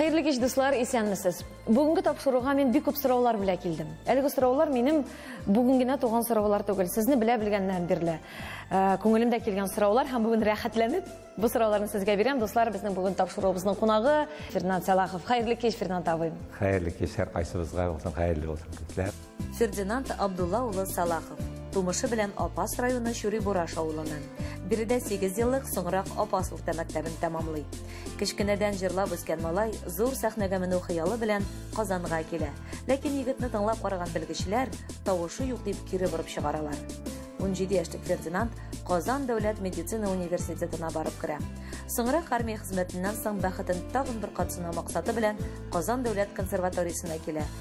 Хәерле кич, дуслар, исәнмесез. Бүгенге тапшыруга мин бик күп сораулар белә килдем. Әлеге сораулар минем бүген генә туган сораулар түгел. Сезне белә белгәннән бирле э, күңелемдә килгән сораулар һәм бүген рәхәтләнеп бу сорауларны сезгә бирәм. Дуслар, безнең бүген тапшыруыбызның кунагы Фернанд Сәлахов. Хәерле кич, Фернанд абый. Хәерле кич, һәр кайсыбызга булсын, хәерле булсын, күзләр. Фердинанд Абдулла улы Салахов. Тумышы белән Апас районы Чүрибураш авылыннан. Биредә 8 еллык, соңрак Апас урта мәктәбен тәмамлый. Кечкенәдән җырлап үскән малай зур сәхнәгә менү хыялы белән Казанга килә. Ләкин егетне тыңлап караган белгечләр тавышы юк дип кире борып чыгаралар. 17 яшьлек Фердинанд Казан дәүләт медицина университетына барып керә. Соңрак армия хезмәтеннән соң бәхетен тагын бер кат сынау максаты белән Казан дәүләт консерваториясенә килә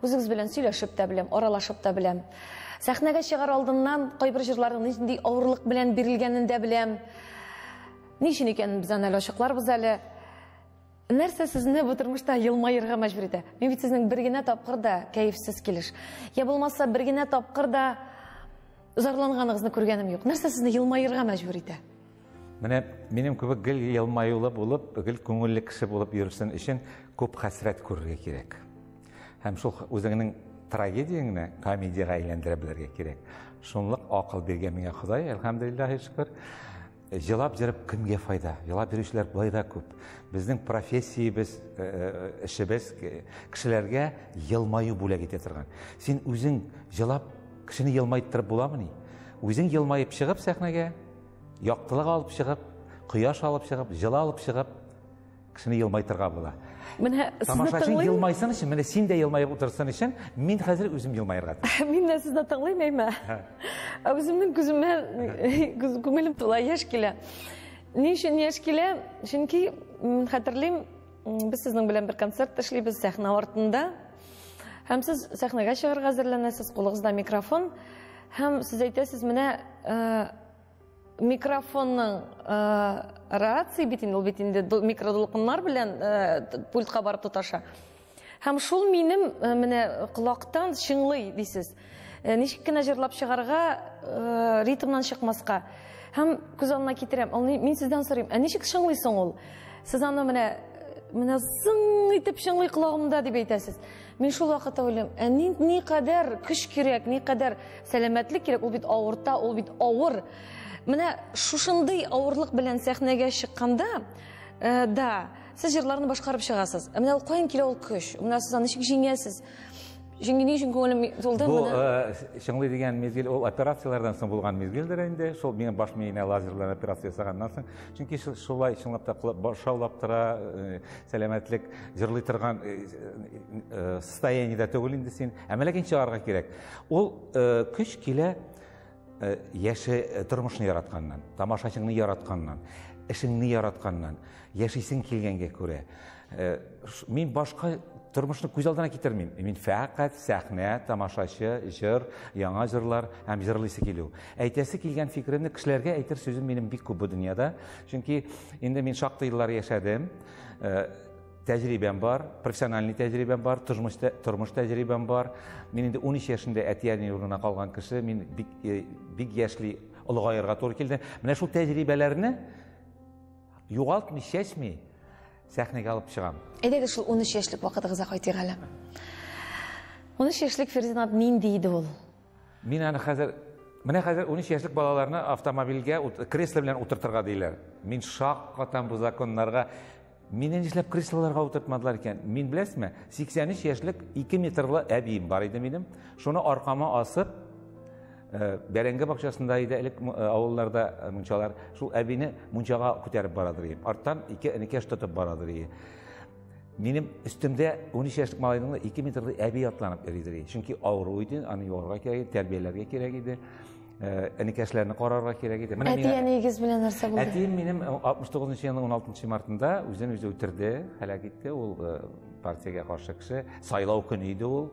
Үзегез белән сөйләшеп тә беләм, аралашып та беләм. Сәхнәгә чыгар алдыннан кайбер җырларның нинди авырлык белән бирелгәнен дә беләм. Ни өчен икәнен без аны әле ачыкларбыз әле. Нәрсә сезне бу тормышта елмаерга мәҗбүр итә? Мин бит сезнең бер генә тапкыр да кәефсез килеш. Я булмаса бер генә тапкыр да зарланганыгызны күргәнем юк. Нәрсә сезне елмаерга мәҗбүр итә? Менә минем кебек гел елмаюлы булып, гел күңелле кеше булып йөрсен өчен күп хәсрәт күрергә кирәк. Һәм шул үзеңнең трагедияңне комедиягә әйләндерә белергә кирәк. Шунлык акыл биргән миңа Ходай, әлхәмдулиллаһи шөкер. Җылап җырып кемгә файда? Җылап йөрүчеләр болай да күп. Безнең профессиябез, э, э, эшебез кешеләргә елмаю бүләк итә торган. Син үзең җылап кешене елмайттырып буламыни? Үзең елмаеп чыгып сәхнәгә, Яктылык алып чыгып, кояш алып чыгып, җылы алып чыгып, кешене елмайтырга була. Менә тамашачы елмайсын өчен, менә син дә елмаеп утырсын өчен, мин хәзер үзем елмаерга тиеш. Мин дә сезне тыңлыйм, әйме? Ә үземнең күземә күңелем тула, яшь килә. Ни өчен яшь килә? Чөнки хәтерлим, без сезнең белән бер концерт эшлибез сәхнә артында. Һәм сез сәхнәгә чыгарга әзерләнәсез, кулыгызда микрофон, һәм сез әйтәсез, менә э, микрофонның э, рация бит инде, ул бит инде микродулкыннар белән э, пультка барып тоташа. Һәм шул минем менә колактан чыңлый дисез. Э, ничек кенә җырлап чыгарга э, ритмнан чыкмаска һәм күз алдына китерәм ул мин сездән сорыйм ә ничек чыңлый соң ул сез аны менә менә зың итеп чыңлый колагымда дип әйтәсез мин шул вакытта уйлыйм ә ни, никадәр көч кирәк никадәр сәламәтлек кирәк ул бит авырта ул бит авыр менә шушындый авырлык белән сәхнәгә чыкканда э, да сез җырларны башкарып чыгасыз ә менә ул каян килә ул көч менә сез аны ничек җиңәсез Җиңги ни өчен күңелем тулды Бу менә? э, чыңлый дигән мизгел ул операцияләрдән соң булган мизгелдер инде. Шул минем баш миенә лазер белән операция ясаганнан соң. Чөнки шу- шулай чынлап та кулак баш шаулап тора, э, сәламәтлек җырлый торган э, э, состояниедә түгел инде син. Ә менә кин чыгарга кирәк. Ул э, көч килә Э, яше э, тормышны яратканнан тамашачыңны яратканнан эшеңне яратканнан яшисең килгәнгә күрә э, мин башка тормышны күз алдына китермим мин фәкать сәхнә тамашачы җыр яңа җырлар һәм җырлыйсы килү әйтәсе килгән фикеремне кешеләргә әйтер сүзем минем бик күп бу дөньяда чөнки инде мин шактый еллар яшәдем Тәҗрибәм бар, профессиональный тәҗрибәм бар, тормыш, тормыш тәҗрибәм бар. Мин инде 13 яшендә әти-әни урынына калган кеше, мин бик, э, бик яшьли олыгаерга туры килде. Менә шул тәҗрибәләрне югалтмый, чәчми сәхнәгә алып чыгам. Әйдәгез шул 13 яшьлек вакытыгызга кайтыйк әле. 13 яшьлек Фердинанд нинди иде ул? Мин аны хәзер Менә хәзер 13 яшьлек балаларны автомобильгә кресло белән утыртырга диләр. Мин шак катам бу законнарга. Мине нишләп креслоларга утыртмадылар икән? Мин беләсме? 83 яшьлек 2 метрлы әбием бар иде минем. Шуны аркама асып, э, бәрәңге бакчасында иде элек э, авылларда э, мунчалар. Шул әбине мунчага күтәреп барадыр идем. Арттан ике энекәш тотып барадыр идем. Минем өстемдә 13 яшьлек малайның 2 метрлы әби атланып йөридер. Чөнки авыру иде, аны юарга кирәк, тәрбияләргә кирәк иде. Әнекәшләрне карарга кирәк иде. Әти әниегез белән нәрсә булды? Әтием минем 69 нчы елның 16 мартында үзен үзе үтерде, һәлак итте. Ул партиягә каршы кеше. Сайлау көне иде ул,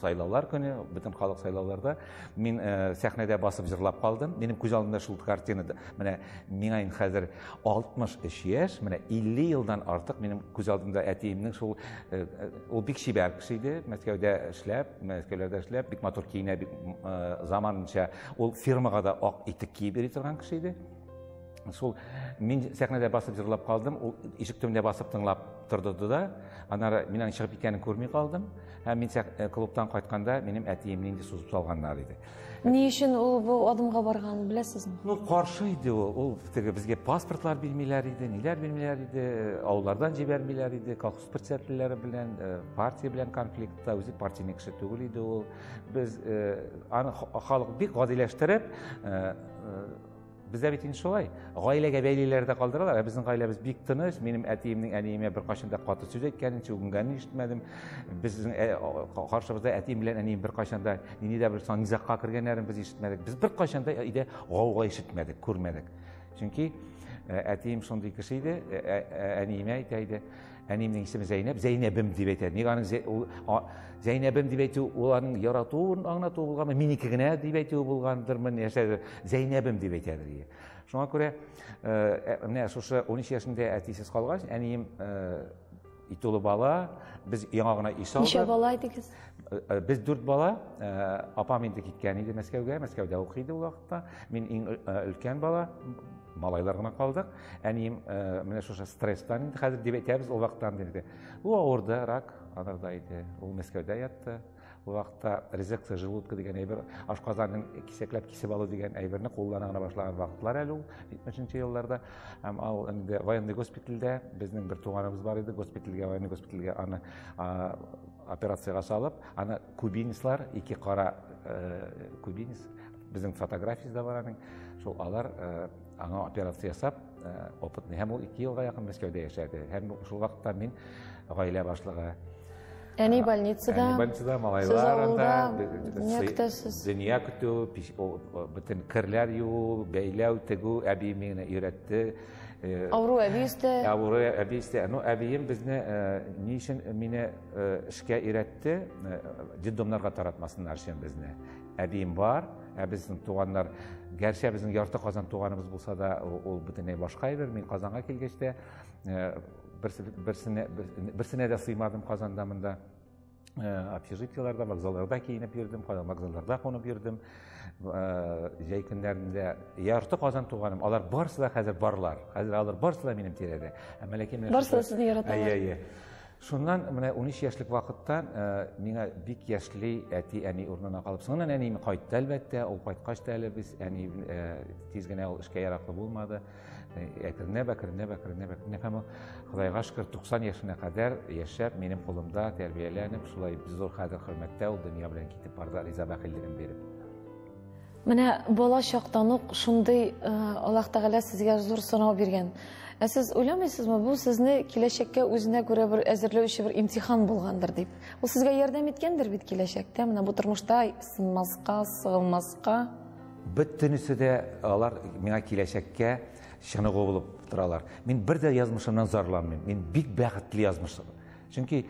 сайлаулар көне, бөтен халык сайлауларда. Мин сәхнәдә басып җырлап калдым. Минем күз алдымда шул картина. Менә миңа инде хәзер 63 яшь, менә 50 елдан артык минем күз алдымда әтиемнең шул э, э, ул бик чибәр кеше иде, Мәскәүдә эшләп, Мәскәүләрдә эшләп, бик матур киенә, бик э, заманынча ул фирмага да ак итек киеп йөри торган кеше иде. Шул мин сәхнәдә басып җырлап калдым, ул ишек төбендә басып тыңлап торды да, аннары мин аның чыгып киткәнен күрми калдым. Һәм мин клубтан кайтканда минем әтиемне инде сузып салганнар иде. Ни өчен ул бу адымга барган, беләсезме? Ну, каршы иде ул. Ул теге безгә паспортлар бирмиләр иде, ниләр бирмиләр иде, авыллардан җибәрмиләр иде, колхоз председательләре белән, э, партия белән конфликтта, үзе партийный кеше түгел иде ул. Без э, аны халык бик гадиләштереп, э, Бездә бит инде шулай. Гаиләгә бәйлиләр дә калдыралар. Ә безнең гаиләбез бик тыныч. Минем әтиемнең әниемә беркайчан да каты сүз әйткәнен, чүгенгәнен ишетмәдем. Безнең э, каршыбызда әтием белән әнием беркайчан да нинди дә бер сан низагка кергәннәрен без ишетмәдек. Без беркайчан да өйдә гауга ишетмәдек, күрмәдек. Чөнки э, әтием шундый кеше иде, э, әниемә әйтә иде. Әниемнең исеме Зәйнәб, Зәйнәбем дип әйтә. Ник аның Зәйнәбем дип әйтү ул аның яратуын аңлату булганмы, минеке генә дип әйтүе булгандырмы, нәрсәдер. Зәйнәбем дип әйтә бергә. Шуңа күрә э, ә, менә шушы 13 яшендә әтисез калгач, әнием э, ит улы бала, без яңа гына үй салдык. Ничә бала идегез? Э, без дүрт бала, апам инде киткән иде Мәскәүгә, Мәскәүдә укый иде ул вакытта. Мин иң өлкән бала, малайлар гына калдык. Әнием э, менә шушы стресстан инде хәзер дип әйтәбез, ул вакыттан инде. Ул авырды, рак анарда иде. Ул Мәскәүдә ятты. Ул вакытта резекция желудка дигән әйбер, ашказанын кисәкләп кисеп алу дигән әйберне куллана гына башлаган вакытлар әле ул 70 елларда. Һәм ал инде военный госпитальдә безнең бер туганыбыз бар иде, госпитальгә, военный госпитальгә аны операциягә салып, аны кубинислар, ике кара э, кубинис, безнең фотографиясендә бар аның, шул алар э, Аңа операция ясап, э, опытный һәм ул 2 елга якын Мәскәүдә яшәде. Һәм шул вакытта мин гаилә башлыгы. Әни больницада. Әни больницада малайларында дөнья көтү, бөтен керләр юу, бәйләү, тегү әби мине өйрәтте. Э, Авыру әби өстә. Авыру әби өстә. Ну, әбием безне э, ни өчен мине эшкә өйрәтте? Детдомнарга таратмасыннар өчен безне. Әбием бар, ә безнең туганнар, гәрчә безнең ярты Казан туганыбыз булса да, ул бөтенләй башка әйбер. Мин Казанга килгәч тә э, берсенә берсенә дә сыймадым Казанда монда. Э, общежитиеларда, вокзалларда киенеп йөрдем, вокзалларда кунып йөрдем. Э, җәй көннәрендә ярты Казан туганым, алар барысы да хәзер барлар. Хәзер алар барысы да минем тирәдә. Ә мәләкәй менә Барысы да сезне яраталар. Әйе, әйе. Шуннан менә 13 яшьлек вакыттан э, миңа бик яшьли әти әни урынына калып. Соңыннан әнием кайтты әлбәттә, ул кайткач та әле без әни э, тиз генә ул эшкә яраклы булмады. Э, әкренләп, әкренләп, әкренләп, әкренләп һәм Худайга шөкер 90 яшенә кадәр яшәп, минем кулымда тәрбияләнеп, шулай зур хәзер хөрмәттә ул дөнья белән китеп барды, риза бәхиллеген биреп. Менә бала чактан ук шундый Аллаһ Тәгалә сезгә зур сынау биргән. Ә сез уйламыйсызмы, бу сезне киләчәккә үзенә күрә бер әзерләүче бер имтихан булгандыр дип? Ул сезгә ярдәм иткәндер бит киләчәктә, менә бу тормышта сынмаска, сыгылмаска. Бөтенесе дә алар миңа киләчәккә чыныгу булып торалар. Мин бер дә язмышымнан зарланмыйм. Мин бик бәхетле язмыш. Чөнки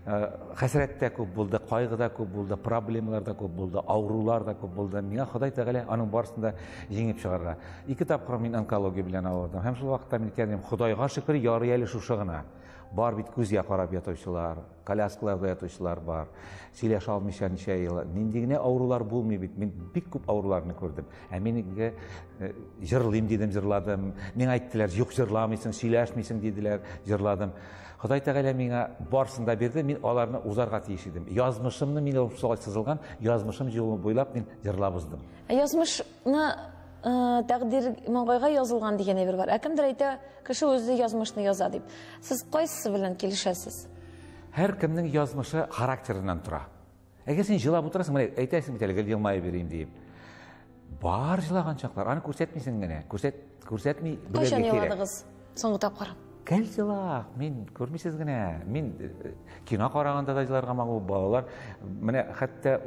хәсрәт тә күп булды, кайгы да күп булды, проблемалар да күп булды, авырулар да күп булды. Миңа Ходай Тәгалә аның барысын да җиңеп чыгарга. Ике тапкыр мин онкология белән авырдым. Һәм шул вакытта мин әйткән Ходайга шөкер, ярый әле шушы гына. Бар бит күзгә карап ятучылар, коляскаларда ятучылар бар. Сөйләшә алмыйча ничә ел. Нинди генә авырулар булмый бит. Мин бик күп авыруларны күрдем. Ә мин инде э, җырлыйм дидем, җырладым. Миңа әйттеләр, юк җырламыйсың, сөйләшмисең диделәр, җырладым. Ходай Тәгалә миңа барсын да бирде, мин аларны узарга тиеш идем. Язмышымны мин шулай сызылган, язмышым җылы буйлап мин җырлап уздым. Ә язмышны Э, тәкъдир маңгайга язылган дигән әйбер бар. Ә кемдер әйтә, кеше үзе язмышны яза дип. Сез кайсысы белән килешәсез? Һәр кемнең язмышы характерыннан тора. Әгәр син җылап утырасың, менә әйтәсең бит әле гел елмаеп йөрим диеп. Бар җылаган чаклар, аны күрсәтмисең генә. Күрсәт, күрсәтми белергә кирәк. Кайчан җыладыгыз соңгы тапкыр? Гел җыла, мин күрмисез генә. Мин э, кино караганда да җыларга магу балалар. Менә хәтта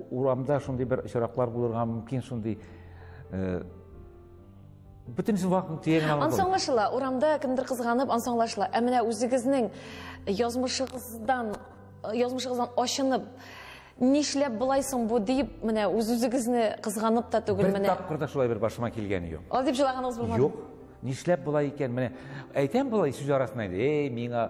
урамда шундый бер очраклар булырга мөмкин шундый э, бөтенесе вакытын төягенә алып. Ансаңлашыла, урамда кемдер кызганып ансаңлашыла. Ә менә үзегезнең язмышыгыздан Язмышыгыздан ачынып, нишләп болай соң бу дип, менә үз-үзегезне кызганып та түгел менә. Бер тапкыр да шулай бер башыма килгәне юк. Алай дип җылаганыгыз булмады? Юк. Нишләп болай икән? Менә әйтәм болай сүз арасында инде, эй, миңа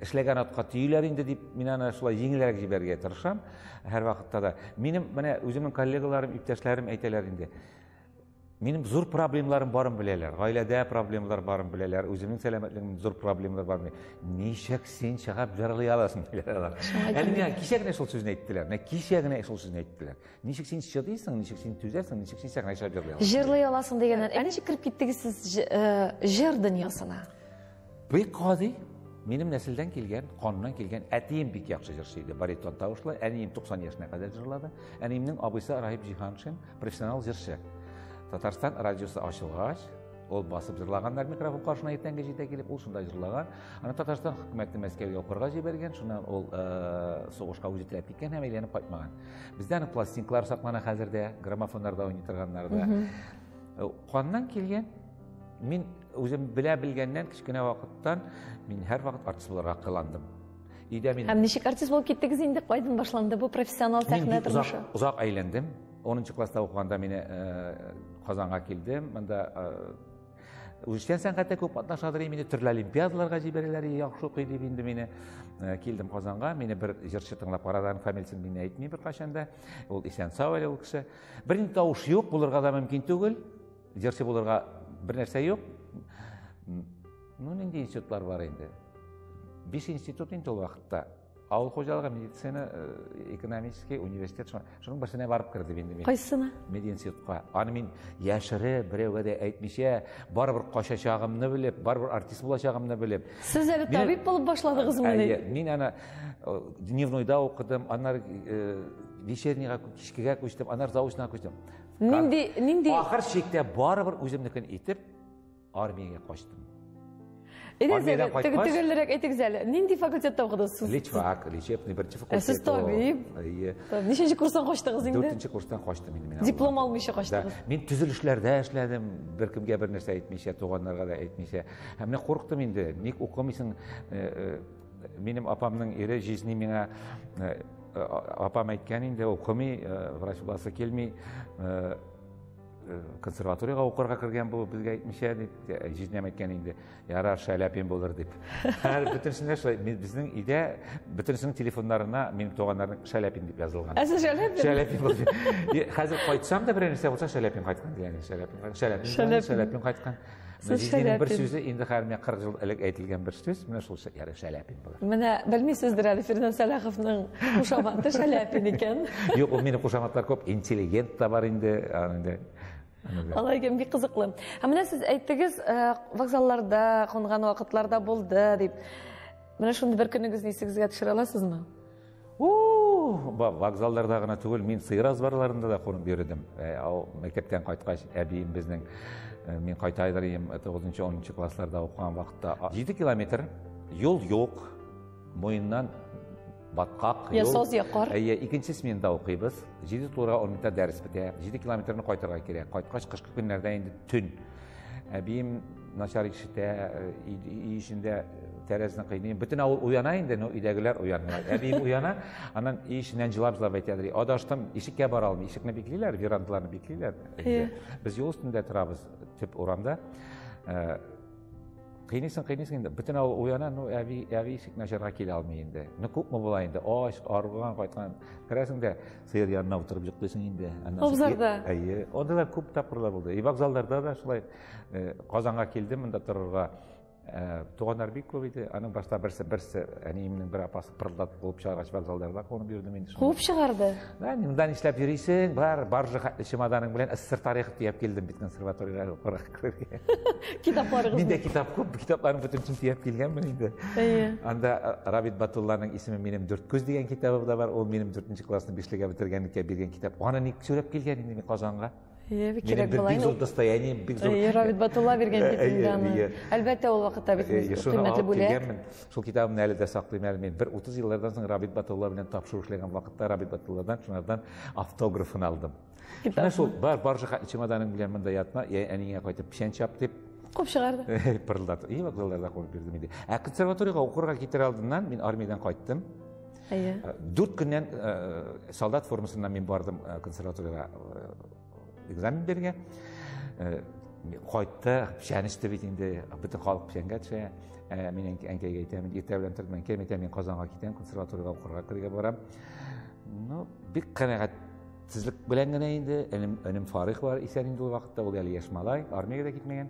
эшләгән атка төйләр инде дип, мин аны шулай җиңелрәк җибәрергә тырышам һәр вакытта да. Минем менә үземнең коллегаларым, иптәшләрем әйтәләр инде. Минем зур проблемларым барын беләләр. Гаиләдә проблемалар барын беләләр, үземнең сәламәтлегемдә зур проблемалар бар. Ничек син чыгып җырлый аласың диләр алар. Әле миңа кичә генә шул сүзне әйттеләр. Менә кичә генә шул сүзне әйттеләр. Ничек син чыдыйсың, ничек син түзәсең, ничек син сәхнәгә чыгып җырлый аласың? Җырлый аласың дигәннән, ә ничек кереп киттегез сез э, җыр дөньясына? Бик гади, минем нәселдән килгән, каннан килгән әтием бик яхшы җырчы иде, баритон тавышлы, әнием 90 яшенә кадәр җырлады. Әниемнең абыйсы Раһип Җиһаншин, профессионал җырчы. Татарстан радиосы ачылгач, ул басып җырлаганнар микрофон каршына иртәнге җидә килеп, ул шунда җырлаган. Аны Татарстан хөкүмәте Мәскәүгә укырга җибәргән, шуннан ул э, сугышка үзе теләп киткән һәм әйләнеп кайтмаган. Бездә аның пластинкалары саклана хәзер дә, граммофоннарда уйный торганнарда. Э, Каннан килгән Мин үзем белә белгәннән кечкенә вакыттан мин һәрвакыт артист буларга кыландым. Өйдә мин Һәм ничек артист булып киттегез инде? Кайдан башланды бу профессионал сәхнә тормышы? Мин озак әйләндем. 10 класста укыганда мин э, Казанга килдем. Монда э, үзешчән сәнгатьтә күп катнашадыр инде төрле олимпиадаларга җибәрәләр яхшы укый дип инде мине э, килдем казанга мине бер җырчы тыңлап карады фамилиясен мин әйтмим беркайчан да ул исән сау әле ул кеше бернинди тавыш юк булырга да мөмкин түгел Җырчы булырга бер нәрсә юк. Ну, нинди институтлар бар инде? Биш институт инде ул вакытта. Авыл хуҗалыгы, медицина, э, экономический университет. Шуның берсенә барып кердем инде мин. Кайсына? Мединститутка. Аны мин яшере, берәүгә дә әйтмичә, барыбер качачагымны белеп, барыбер артист булачагымны белеп. Сез әле табиб булып башладыгызмы? Әйе, мин аны э, дневнойда укыдым, аннары э, вечернийга, кичкегә күчтем, аннары заочныйга күчтем. Нинди нинди Ахыр чиктә барыбер үземнекен итеп армиягә качтым. Тегелерәк әйтегез әле. Нинди факультетта укыдыгыз сез? Личфак, лечебный беренче факультет. Сез табиб. Ничәнче курстан качтыгыз инде? Дүртенче курстан качтым инде мин. Диплом алмыйча качтыгыз. Мин төзелешләрдә эшләдем, беркемгә бер нәрсә әйтмичә, туганнарга да әйтмичә. Һәм менә курыктым инде, ник укымыйсың? Э, э, Минем апамның ире җизни миңа э, апам әйткән инде укымый э, врач буласы килми э, э, консерваторияга укырга кергән бу безгә әйтмичә дип җизнәм әйткән инде ярар шәләпин булыр дип хәзер бөтенесендә шулай безнең өйдә бөтенесенең телефоннарына минем туганнарның шәләпин дип язылган ә сез шәләпин шәләпин хәзер кайтсам да берәр нәрсә булса шәләпин кайткан дигән шәләпин шәләпин шәләпин кайткан Сез Мәҗидинең бер сүзе инде хәзер менә 40 ел элек әйтелгән бер сүз, менә шул яре Шәләпин була. Менә белмисездер әле Фирдәүс Сәлаховның кушаматы Шәләпин икән. Юк, ул минем кушаматлар күп, интеллигент та бар инде, инде Алай икән, бик кызыклы. Һәм менә сез әйттегез, э, вокзалларда кунган вакытларда булды дип. Менә шундый бер көнегезне исегезгә төшерә аласызмы? Вокзалларда гына түгел, мин сыер азбарларында да кунып йөрдем. Э, мәктәптән кайткач, әбием безнең э, мин кайта идем 9-10 классларда укыган вакытта 7 километр юл юк, муеннан баткак юл. Ясоз якар. Әйе, икенче сменада укыйбыз. 7 турга 10 минутта дәрес бетә. 7 километрны кайтырга кирәк. Кайткач кышкы көннәрдә инде төн. Әбием Начар ишетә, өй эчендә тәрәзне кыйный. Бөтен авыл уяна инде, но өйдәгеләр уянмый. Әбием уяна, аннан өй эченнән җылап-җылап әйтә, ди, адаштым, ишеккә бара алмый, ишекне биклиләр, верандаларны биклиләр. Без юл өстендә торабыз, төп урамда. Кыйныйсың, кыйныйсың инде, бөтен авыл уяна, ну, әби, әби ишек начарга килә алмый инде. Ну, күпме була инде, ач, арган, кайткан. Керәсең дә, сыер янына утырып йоклыйсың инде. Абзарда. Әйе, анда да күп тапкырлар булды. И вокзалларда да шулай. Э, Казанга килдем монда торырга. Э, туганнар бик күп иде. Аның башта берсе берсе әниемнең бер апасы пырылдатып куып чыгаргач вокзалдарда куып бирдем инде. Куып чыгарды. Да, монда нишләп йөрисең? Бар, баржа хәтле чемоданың белән СССР тарихы төяп килдем бит консерваториягә укырга. Китапларыгыз. Миндә китап күп, китапларның бөтенесен төяп килгәнмен инде. Әйе. Анда э, Рабит Батулланың исеме минем дүрт күз дигән китабы да бар. Ул минем дүртенче классны бишлегә бетергәнлеккә биргән китап. Аны ник сөйләп килгән инде мин Казанга? Ебик кирәк була. Бик зур достояние, бик зур. Ир Равид Батулла биргән китабымны. Әлбәттә, ул вакытта бит кыйммәтле бүләк. Шул китабымны әле дә саклыйм әле мин. Бер 30 еллардан соң Равид Батулла белән тапшыру эшләгән вакытта Равид Батулладан шунардан автографын алдым. Менә шул бар бар чемоданың белән монда ятма, я әнигә кайтып печән чап дип Куып чыгарды. Пырылдатып. И вакытларда куып бирдем инде. Ә консерваториягә укырга китер алдыннан мин армиядән кайттым. Әйе. Э, дүрт көннән э, солдат формасында мин бардым э, консерваториягә экзамен бергә. Кайтты, печән эчте бит инде, бөтен халык печәнгә төшә. Мин әнкәйгә әйтәм, иртә белән торып мин әнкәйгә әйтәм, мин Казанга китәм, консерваториягә укырга керергә барам. Ну, бик канәгать сезлек белән генә инде, энем, энем Фарих бар, исән инде ул вакытта, ул әле яшь малай, армиягә дә китмәгән.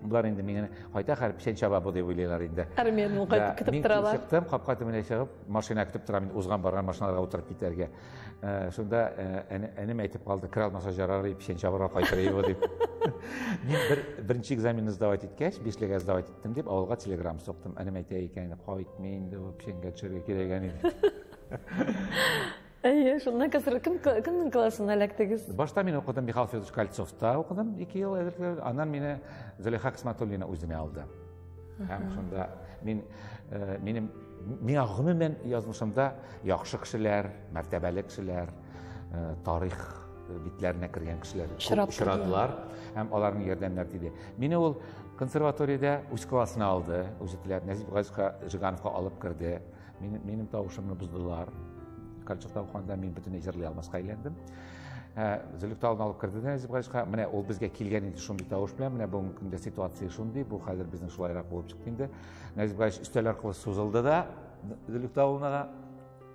Булар инде миңа кайта хәр печән чаба бу дип уйлыйлар инде. Армиядән ул кайтып китеп торалар. Мин чыктым, капка төбенә чыгып, машина көтеп торам инде узган барган машиналарга утырып китәргә. Э, шунда э, әнем әйтеп калды, кер алмаса жарар и печән чабарга кайтыр и бу дип. Мин бер беренче экзаменны сдавать иткәч, бишлегә сдавать иттем дип авылга телеграм соктым. Әнем әйтә икән, кайтмый инде, печәнгә төшәргә кирәк әни. Әйе, шуннан қазір кім, кімнің классына эләктегез? Башта мин укыдым Михаил Федорович Кольцовта укыдым ике ел әзерләр. Аннан мине Зөләйха Хисматуллина үзенә алды. Һәм шунда мин э, минем миңа гомумән язмышымда яхшы кешеләр, мәртәбәле кешеләр, э, тарих битләренә кергән кешеләр очрадылар һәм аларның ярдәмнәре тиде. Мине ул консерваториядә үз классына алды, үзе теләп Нәзип Газизка Жигановка алып керде. Минем, минем тавышымны буздылар. Калчык тавыкканда мин бөтенләй җырлый алмаска әйләндем. Ә, Зөлфтә алып алып керде дә Әзип Галичка. Менә ул безгә килгән инде шундый тавыш белән. Менә бүгенге көндә ситуация шундый. Бу хәзер безнең шулайрак булып чыкты инде. Әзип Галич өстәл аркылы сузылды да Зөлфтә улына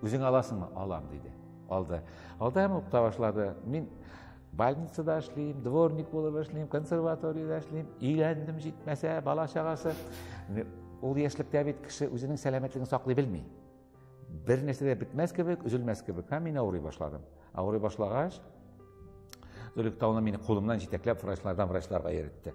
үзең аласыңмы? Алам, диде. Алды. Алды һәм укыта башлады. Мин больницада эшлим дворник булып эшлим консерваторияда эшлим өйләндем җитмәсә бала чагасы ул яшьлектә бит кеше үзенең сәламәтлеген саклый белми бер нәрсә дә бетмәс кебек өзелмәс кебек һәм мин авырый башладым авырый башлагач Зөлек тауны мине кулымнан җитәкләп врачлардан врачларга йөретте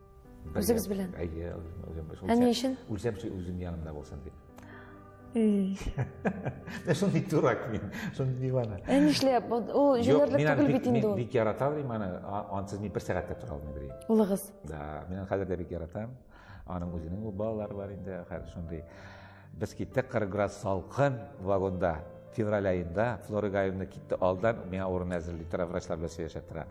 Үзегез белән? Әйе, үзем белән. Ә ни өчен? Үлсәм, үзем янымда булсын дип. Менә шундый дурак мин, шундый дивана. Ә нишләп? Ул җүләрлек түгел бит инде ул. Мин бик ярата алам аны, ансыз мин бер сәгать тә тора алмыйм дим. Улыгыз? Да, мин аны хәзер дә бик яратам. Аның үзенең балалары бар инде, хәзер шундый. Без киттек, 40 градус салкын вагонда. Февраль аенда Флора Гаевна китте алдан, миңа урын әзерли тора, врачлар белән сөйләшә тора.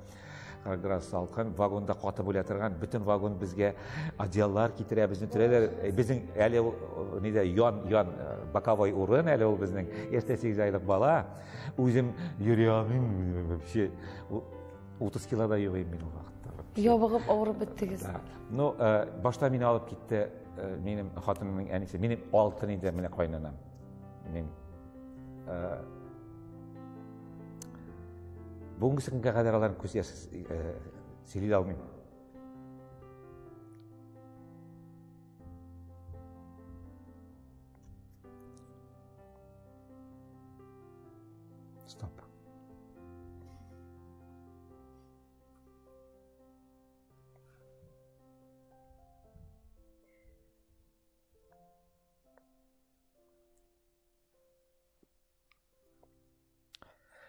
40 градус салкын, вагонда катып үлә торган, бөтен вагон безгә одеяллар китерә, безне төрәләр. Э, безнең әле ул э, нидә ян ян э, боковой урын әле ул безнең. Иртә 8 айлык бала. Үзем йөри алмыйм вообще. 30 килода йөрим мин ул вакытта. Ябыгып авырып беттегез. Ну, башта мине алып китте Э, минем хатынымның әнисе, минем алтын инде менә кайнанам. Мин э, бүгенге көнгә кадәр аларны күз яшь э, сөйли алмыйм.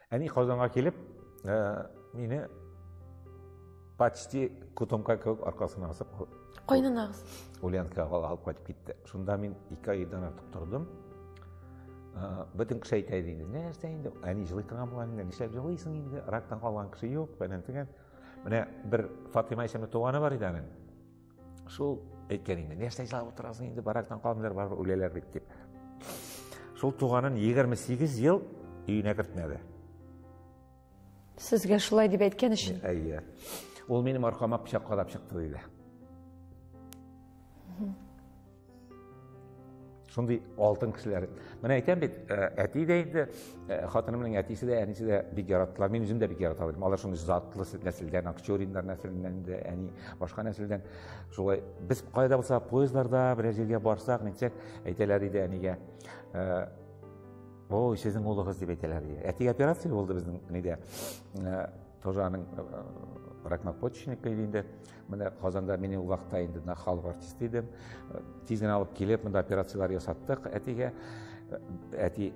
Әни Казанга килеп, ә, мине почти котомка кебек аркасына асып кайнанагыз ульянкага алып кайтып китте шунда мин ике айдан артык тордым бөтен кеше әйтә иде инде нәрсә инде әни жылый торган була инде нишләп жылыйсың инде рактан калган кеше юк фәлән төгән Менә бер Фатыйма исемле туганы бар иде аның. Шул әйткән инде, нәрсә җылап утырасың инде, барактан калмыйлар, барыбер үләләр бит дип. Шул туганын 28 ел өенә кертмәде. Сезгә шулай дип әйткән өчен? Әйе. Ул минем аркама пычак кадап чыкты диде. шундый алтын кешеләр менә әйтәм бит э, әти дә инде э, хатынымның әтисе дә әнисе дә бик яраттылар мин үзем дә бик ярата алдым алар шундый затлы нәселдән акчуриннар нәселеннән инде әни башка нәселдән шулай без кайда булса поездларда берәр җиргә барсак нитсәк әйтәләр иде әнигә э, ой сезнең улыгыз дип әйтәләр иде әтигә операция булды безнең нидә тоже аның ракнопочечника иде инде менә казанда мин ул вакытта инде мына халык артисты идем тиз генә алып килеп монда операцияләр ясаттык әтигә әти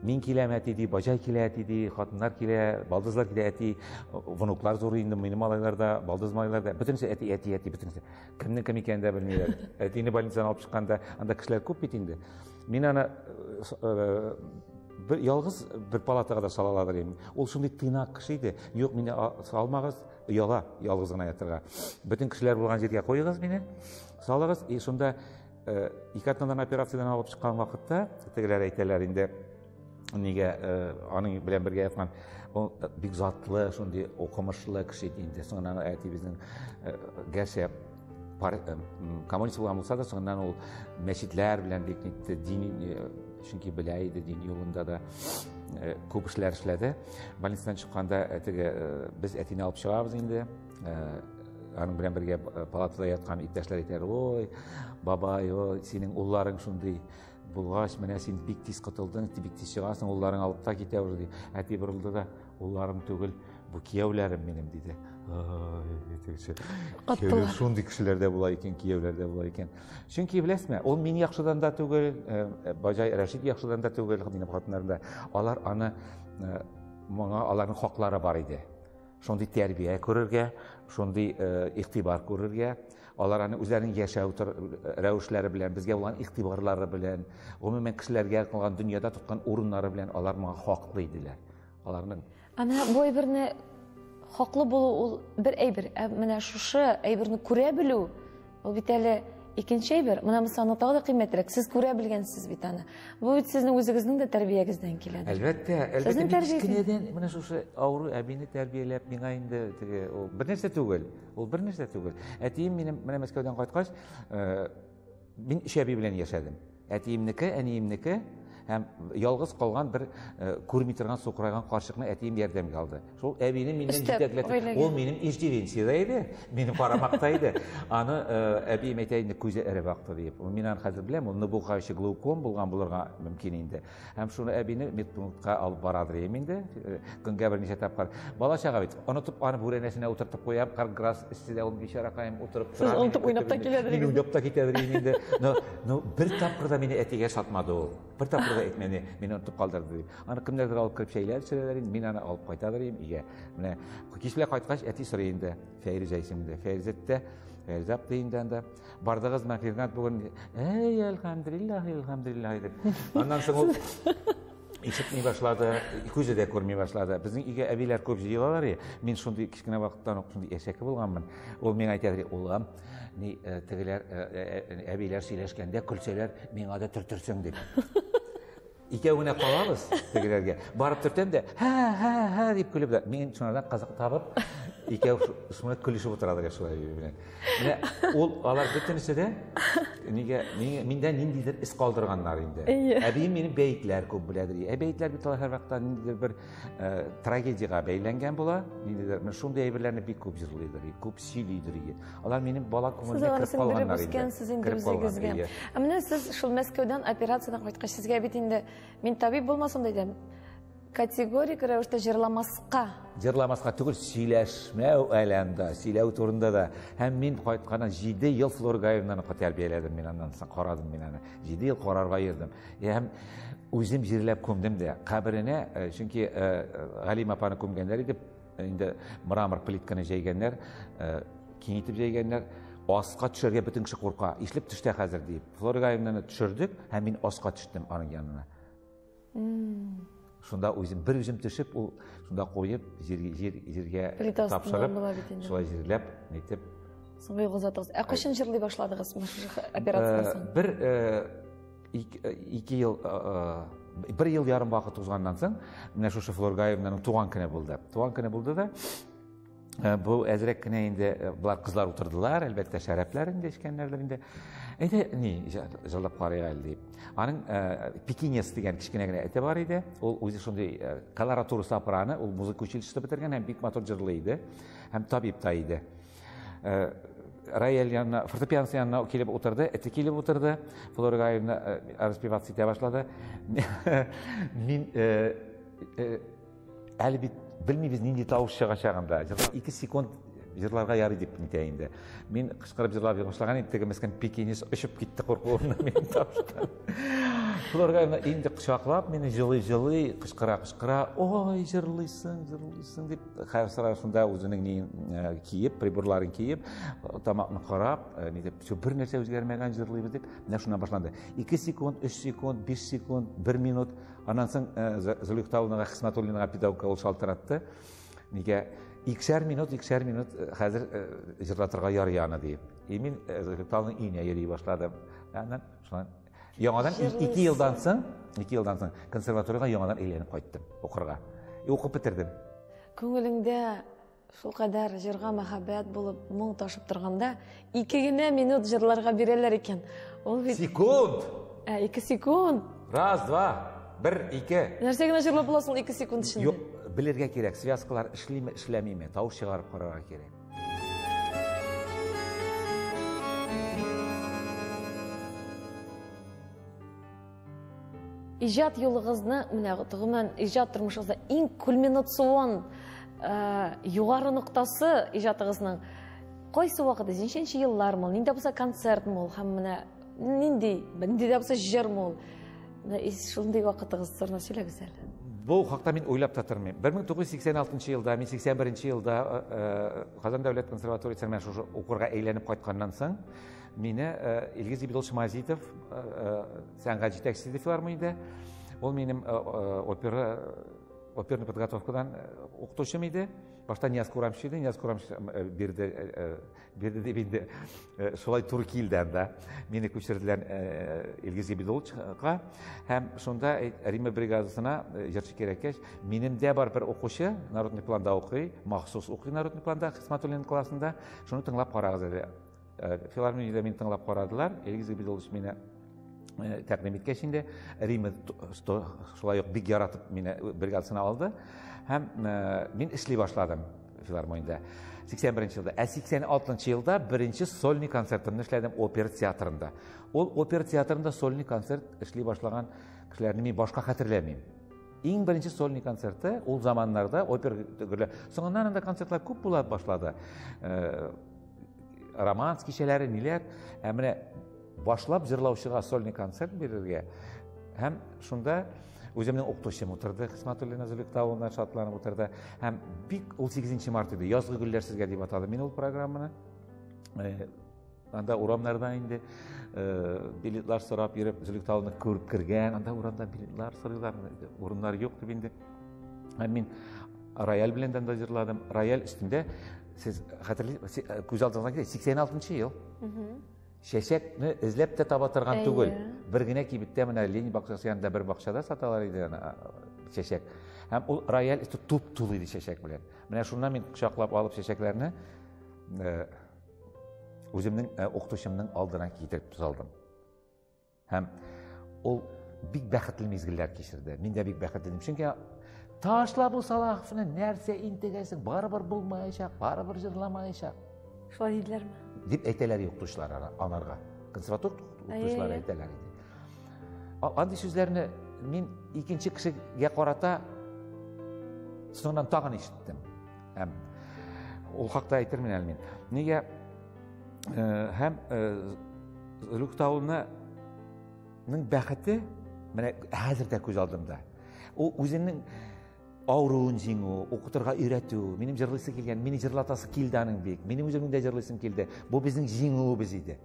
мин киләм әти ди бажай килә әти ди хатыннар килә балдызлар килә әти внуклар зур инде минем малайлар да балдыз малайлар да бөтенесе әти әти әти бөтенесе кемнең кем икәнен дә белмиләр әтине больницадан алып чыкканда анда кешеләр күп бит инде Мин аны э, бер ялгыз бер палатага да сала алыр идем. Ул шундый тыйнак кеше иде. Юк, мине салмагыз, яла, ялгыз гына ятырга. Бөтен кешеләр булган җиргә куегыз мине. Салыгыз, и шунда э, ике атнадан операциядән алып чыккан вакытта, тегеләр әйтәләр инде, Нигә э, аның белән бергә яткан ул э, бик затлы, шундый укымышлы кеше иде инде. Соңыннан әтибезнең э, гәрчә коммунист булган булса да, соңыннан ул мәчетләр белән бик нитте, дини чөнки белә иде дин юлында да күп эшләр эшләде. Больницадан чыкканда әтеге без әтине алып чыгабыз инде. Аның белән бергә палатада яткан иптәшләр әйтәр, "Ой, бабай, ой, синең улларың шундый Булгач, менә син бик тиз котылдың, бик тиз чыгасың, улларың алып та китә уже, ди. Әти борылды да, улларым түгел, бу кияүләрем минем, диде. Кияүләр шундый кешеләрдә була икән, кияүләрдә була икән. Чөнки беләсме, ул мин яхшыдан да түгел, э, э, Баҗай Рәшит яхшыдан да түгел, минем хатыннарым да. Алар аны э, моңа аларның хаклары бар иде. Шундый тәрбия күрергә, шундый игътибар күрергә, Алар аны үзләренең яшәү рәвешләре белән, безгә булган игътибарлары белән, гомумән кешеләргә кылган дөньяда тоткан урыннары белән алар моңа хаклы иделәр. Аларның Ана бу әйберне хаклы булу ул бер әйбер, ә менә шушы әйберне күрә белү ул бит әле икенче әйбер. Менә мисаны тагы да кыйммәтрәк. Сез күрә белгәнсез бит аны. Бу бит сезнең үзегезнең дә тәрбиягездән килә. Әлбәттә, әлбәттә, кечкенәдән менә шушы авыру әбине тәрбияләп, миңа инде теге бер нәрсә түгел. Ул бер нәрсә түгел. Әтием минем менә Мәскәүдән кайткач, э, мин өч әби белән яшәдем. Әтиемнеке, әниемнеке һәм ялгыз калган бер э, күрми торган сукырайган карчыкны әтием ярдәмгә алды. Шул әбине миннән җитәкләтеп, ул минем иждивенциядә иде, минем карамакта иде. Аны э, әбием әйтә инде күзе эреп акты дип. Мин аны хәзер беләм, ул ныбуга ише глауком булган булырга мөмкин инде. Һәм шуны әбине медпунктка алып барадыр ем инде, э, көнгә бер ничә тапкыр. Бала чага бит, онытып аны бүрәнәсенә утыртып куям, карграс эстидә ул бичаракаем утырып тора. Сез онытып уйнап та киләдер. Мин уйнап та китәдер ем инде. Но, но бер тапкыр да мине әтигә сатмады ул. Бер тапкыр да әйтмәне, мине онытып калдырды дип. Аны кемнәрдер алып кереп чәйләр сөрәләр инде, мин аны алып кайтадыр ем өйгә. Менә кичле кайткач әти сорый инде, Фәйризә исемендә. Фәйризә дә, Фәйризә апты инде анда. Бардыгыз мә Фирнат бүген. Әй, әлхәмдулиллаһ, әлхәмдулиллаһ дип. Аннан соң ул ишетми башлады, күзе дә күрми башлады. Безнең өйгә әбиләр күп җыелалар и. Мин шундый кичкенә вакыттан ук шундый әшәке булганмын. Ул миңа әйтә, "Улым, ни э, тегеләр э, э, әбиләр сөйләшкәндә көлсәләр, миңа да төртөрсең" дип. Икәү генә калабыз тегеләргә. Барып төртәм дә, һә, һә, һә дип көлеп дә. Мин шунардан казык табып, икәү шуны көлешеп утыралар я шулай белән. Менә ул алар бөтенесе дә нигә миндә ниндидер эз калдырганнар инде. Әбием мине бәетләр күп беләдер. Ә бәетләр бит алар һәрвакыт ниндидер бер Э, трагедияга бәйләнгән була ниндидер менә шундый әйберләрне бик күп җырлыйдыр күп сөйлидер иде алар минем бала күңеленә кереп калганнар инде ә менә сез шул мәскәүдән операциядән кайткач сезгә бит инде мин табиб булмасам да идем категорик рәвештә җырламаска җырламаска түгел сөйләшмәү әләмдә сөйләү турында да һәм мин кайтканнан җиде ел флоргаевнаны тәрбияләдем мин аннан соң карадым мин аны җиде ел карарга йөрдем Һәм үзем җирләп күмдем дә. Каберенә, э, чөнки э, э, Галим апаны күмгәннәр иде, инде мрамор плитканы җәйгәннәр, киңитеп җәйгәннәр. Аска төшәргә бөтен кеше курка. Ишлеп төштә хәзер дип. Флора Галимнаны төшердек һәм мин аска төштем аның янына. шунда үзем бер үзем төшеп ул шунда куеп җир җир җиргә тапшырып шулай җирләп әйтеп соңгы юлга озатыгыз ә кайчан җырлый башладыгыз операциядан соң бер ике ел бер ел ярым вакыт узганнан соң менә шушы флоргаевнаның туган көне булды туган көне булды да Э, бу әзрәк кенә инде э, болар кызлар утырдылар әлбәттә шәрәпләр инде эчкәннәрдер инде әйдә ни җырлап карыйк әле дип аның ә, э, пекинес дигән кечкенә генә эте бар иде ул үзе шундый ә, колоратура сапыраны ул музыка училищесы бетергән һәм бик матур җырлый иде һәм табиб та иде ә, рояль янына фортепианос янына килеп утырды эте килеп утырды флора гаевна распеваться итә башлады мин ә, ә, Әле бит белмибез нинди тавыш чыгачагын да. Җырлап 2 секунд җырларга ярый дип нитә инде. Мин кычкырып җырлап башлаган идем, теге мескен пекинис очып китте куркуымнан минем тавышка. Флорга инде кочаклап мине җылый-җылый кычкыра-кычкыра, "Ой, җырлыйсың, җырлыйсың" дип, хәзер шунда үзенең ни э, киеп, приборларын киеп, тамакны карап, э, ни дип, бер нәрсә үзгәрмәгән җырлыйбыз дип, менә шуннан башланды. 2 секунд, 3 секунд, 5 секунд, 1 минут Аннан соң Зөлихтаулнага Хисматуллинга педагогка ул шалтыратты. Нигә иксәр минут, иксәр минут хәзер җырлатырга ярый аны диеп. И мин Зөлихтаулның өенә йөри башладым. Аннан шулай яңадан 2 елдан соң, 2 елдан соң консерваториягә яңадан әйләнеп кайттым укырга. И укып бетердем. Күңелеңдә Шул кадәр җырга мәхәббәт булып моң ташып торганда, ике генә минут җырларга бирәләр икән. Ул бит Секунд! Ә, ике секунд. Раз, два, бер, ике. Нәрсә генә җырлап буласың ике секунд эчендә? Юк, белергә кирәк, связкалар эшлиме, эшләмиме, тавыш чыгарып карарга кирәк. Иҗат юлыгызны, менә гомумән иҗат тормышыгызда иң кульминацион э, югары ноктасы иҗатыгызның кайсы вакыты, ничәнче еллар мул, нинди булса концерт мул һәм менә нинди, нинди дә булса җыр мул. Шундый вакытыгыз турында сөйләгез әле. Бу хакта мин уйлап та тормыйм. 1986 елда, мин 81 елда э, э, Казан дәүләт консерваториясенә шушы укырга әйләнеп кайтканнан соң, Мине Илгиз Ибидович Мазитов, сәнгать җитәкчесе ди филармониядә. Ул минем опера оперный подготовкадан укытучым иде. Башта Нияз Курамш иде, Нияз Курамш бирде, бирде дип инде шулай туры килде анда. Мине күчерделәр Илгиз Ибидовичка һәм шунда Рима бригадасына җырчы кирәккәч, минем дә бар бер укучы, народный планда укый, махсус укый народный планда, Хисматуллин классында. Шуны тыңлап карагыз әле. Э, филармониядә мин тыңлап карадылар эльгиз габидулович мені э, тәкъдим иткәч инде рима шулай ук бик яратып мине бригадасына алды һәм э, мин эшли башладым филармониядә 81 беренче елда ә 86 елда беренче сольный концертымны эшләдем опера театрында ул опера театрында сольный концерт эшли башлаган кешеләрне мин башка хәтерләмим иң беренче сольный концерты ул заманнарда опера соңыннан анда концертлар күп була башлады романс кичәләре ниләр ә менә башлап җырлаучыга сольный концерт бирергә һәм шунда үземнең укытучым утырды хисматуллина зөликта улына шатланып утырды һәм бик ул сигезенче март иде язгы гөлләр сезгә дип атадым мин ул программаны э, анда урамнарда инде э, билетлар сорап йөреп зөликта улны күреп кергән анда урамда билетлар сорыйлар урыннар юк дип инде һәм мин рояль белән дә җырладым рояль өстендә сез хәтерлисез э, күз алдыңызга килә сиксән алтынчы ел чәчәкне эзләп тә таба торган түгел бер генә кибеттә менә ленин бакчасы янында бер бакчада саталар иде аны чәчәк һәм ул рояль өсте туп тулы иде чәчәк белән менә шуннан мин кочаклап алып чәчәкләрне э, үземнең э, укытучымның алдына китереп салдым Һәм ул бик бәхетле мизгелләр кичерде. Мин дә бик бәхетле идем. Чөнки ташла бу Салаховны нәрсә интегәсең? Барыбер булмаячак, барыбер җырламаячак. Шулай диделәрме? Дип әйтәләр юктучлар анарга. Консерватор юктучлар әйтәләр иде. Андый сүзләрне мин икенче кешегә карата соңыннан тагын ишеттем. Һәм ул хакта әйтермен әле мин. Нигә һәм Рухтауны ның бәхете менә хәзер дә күз алдымда ул үзеңнең авыруын җиңү укытырга өйрәтү минем җырлыйсы килгән мине җырлатасы килде аның бик минем үземнең дә җырлыйсым килде бу безнең җиңүебез иде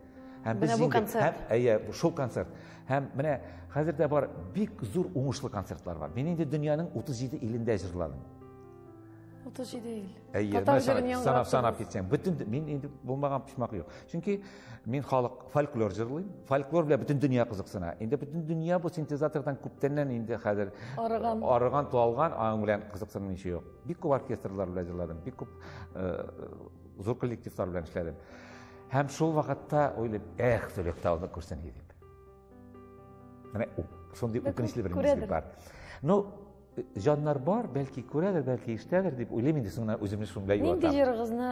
һәм без бу концерт әйе шул концерт һәм менә хәзер дә бар бик зур уңышлы концертлар бар мин инде дөньяның 37 илендә җырладым отыз җиде ел әйе санап санап китсәң бөтен мин инде булмаган почмак юк чөнки мин халык фольклор җырлыйм фольклор белән бөтен дөнья кызыксына инде бөтен дөнья бу синтезатордан күптәннән инде хәзер арыган арыган туалган аның белән кызыксынмыйча юк бик күп оркестрлар белән җырладым бик күп зур коллективлар белән эшләдем һәм шул вакытта уйлыйм эх төлек тауны күрсен дип менә шундый үкенечле бер мизгел бар ну Җаннар бар, бәлки күрәдер, бәлки ишетәдер дип уйлыйм инде соңына үземне шунда юатам. Нинди җырыгызны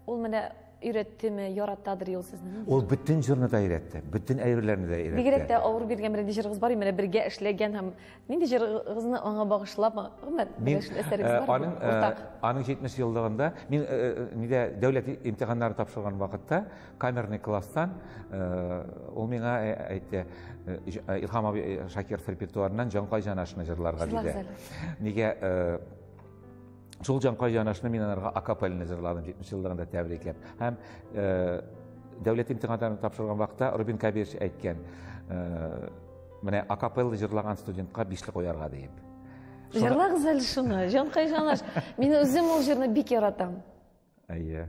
ул менә өйрәттеме, яратадыр юл сезне? Ул бөтен җырны да өйрәтте, бөтен әйберләрне дә өйрәтте. Бигрәк тә авыр биргән бер нинди җырыгыз бар, менә бергә эшләгән һәм нинди җырыгызны аңа багышлап, гомер әсәрегез э, бар. Аның э, аның 70 еллыгында мин э, нидә дәүләт имтиханнарын тапшырган вакытта камерный класстан ул миңа әйтте илһам абый шакиров репертуарыннан җанкай җанашны җырларга диде нигә шул җанкай җанашны мин аларга акапельный җырладым җитмеш еллыгында тәбрикләп һәм дәүләт имтиханнарын тапшырган вакытта рубин кабирович әйткән менә акапелла җырлаган студентка бишле куярга диеп җырлагыз әле шуны җанкай җанаш мин үзем ул җырны бик яратам әйе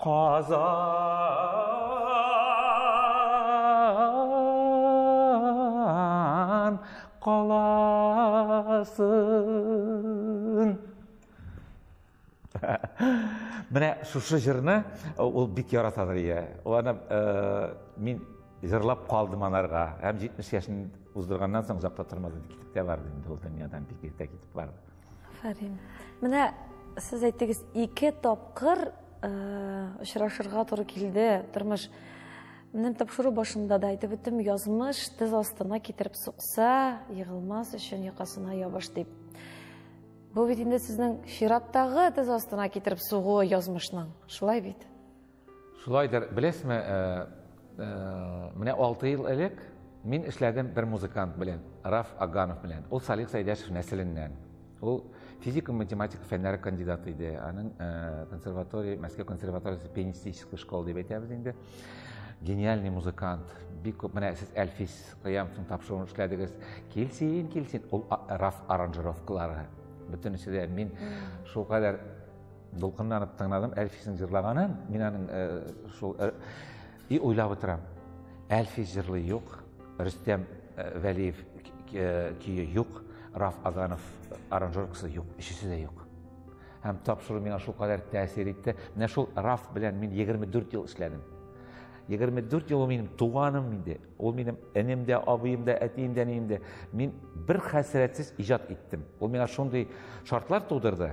Казан каласын. Менә шушы җырны э, ул бик яратадыр ия. Ул аны э, мин җырлап калдым анарга. Һәм 70 яшен уздырганнан соң озакта тормады, китеп тә барды инде ул дөньядан бик иртә китеп барды. Афәрин. Менә сез әйттегез, ике тапкыр очрашырга туры килде тормыш. Менә тапшыру башында да әйтеп үттем, язмыш тез астына китереп сукса, егылмас өчен якасына ябыш дип. Бу бит инде сезнең чираттагы тез астына китереп сугуы язмышның. Шулай бит? Шулайдыр, беләсме, менә алты ел элек мин эшләдем бер музыкант белән, Раф Аганов белән. Ул Салих Сәйдәшев нәселеннән. Ул физика математика фәннәре кандидаты иде. Аның э, консерватория, Мәскәү консерваториясе пианистическая школа дип әйтәбез инде. Гениальный музыкант. Бик күп менә сез Әлфис Кыямовның тапшыруын эшләдегез. Килсин, килсин. Ул Раф аранжировкалары. Бөтенесе дә мин шул кадәр Дулкынланып тыңладым Әлфисен җырлаганын. Мин аның э, шул э, и уйлап утырам. Әлфис җырлый юк, Рөстәм э, Вәлиев көе юк, Раф Аганов аранжировкасы юк, өчесе дә юк. Һәм тапшыру миңа шул кадәр тәэсир итте. Менә шул Раф белән мин 24 ел эшләдем. 24 ел минем туганым инде. Ул минем энем дә, абыем да, әтием дә, әнием дә. Мин бер хәсрәтсез иҗат иттем. Ул миңа шундый шартлар тудырды.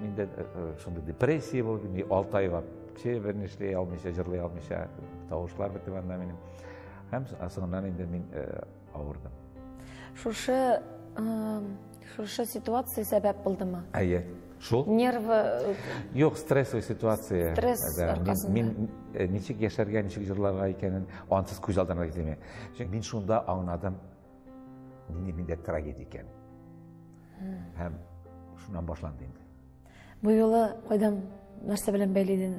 Миндә э, э, шундый депрессия булды, мин 6 айлап кеше берни эшли алмыйча, җырлый алмыйча, тавышлар бетеп анда минем. Һәм соңыннан инде мин э, авырдым. Шушы шушы ситуация сәбәп булдымы? Әйе. Шул? Нервы Юк, стрессовый ситуация. Стресс да, аркасында. Мин, мин ничек яшәргә, ничек җырларга икәнен ансыз күз алдына китермә. Чөнки мин шунда аңладым, Нинди миндә трагедия икән. Һәм шуннан башланды инде. Бу юлы кайдан нәрсә белән бәйле идең?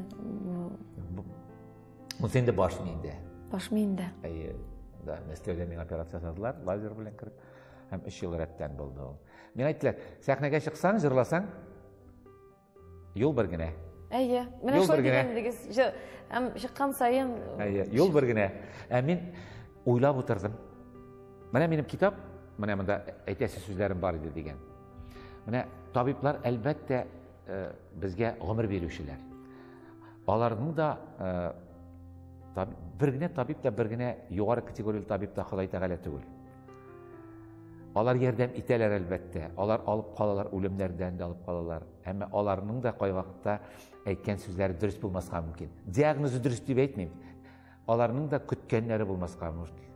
Бу инде баш миендә. Баш миендә. Әйе. Да, Мәскәүдә миңа операция ясадылар, лазер белән кереп. Һәм 3 ел рәттән булды ул. Миңа әйттеләр, сәхнәгә чыксаң, җырласаң, Юл бер генә. Әйе. Менә шулай дигән идегез. Һәм чыккан саен Әйе, юл бер генә. Ә мин уйлап утырдым. Менә минем китап, менә монда әйтәсе сүзләрем бар иде дигән. Менә табиблар әлбәттә э, безгә гомер бирүчеләр. Аларның да э, табиб, бер генә табиб та бер генә югары категорияле табиб та Ходай Тәгалә түгел. Алар ярдәм итәләр, әлбәттә. Алар алып калалар, үлемнәрдән дә алып калалар. Әмма аларның да кай вакытта әйткән сүзләре дөрес булмаска мөмкин. Диагнозы дөрес дип әйтмим. Аларның да көткәннәре булмаска мөмкин.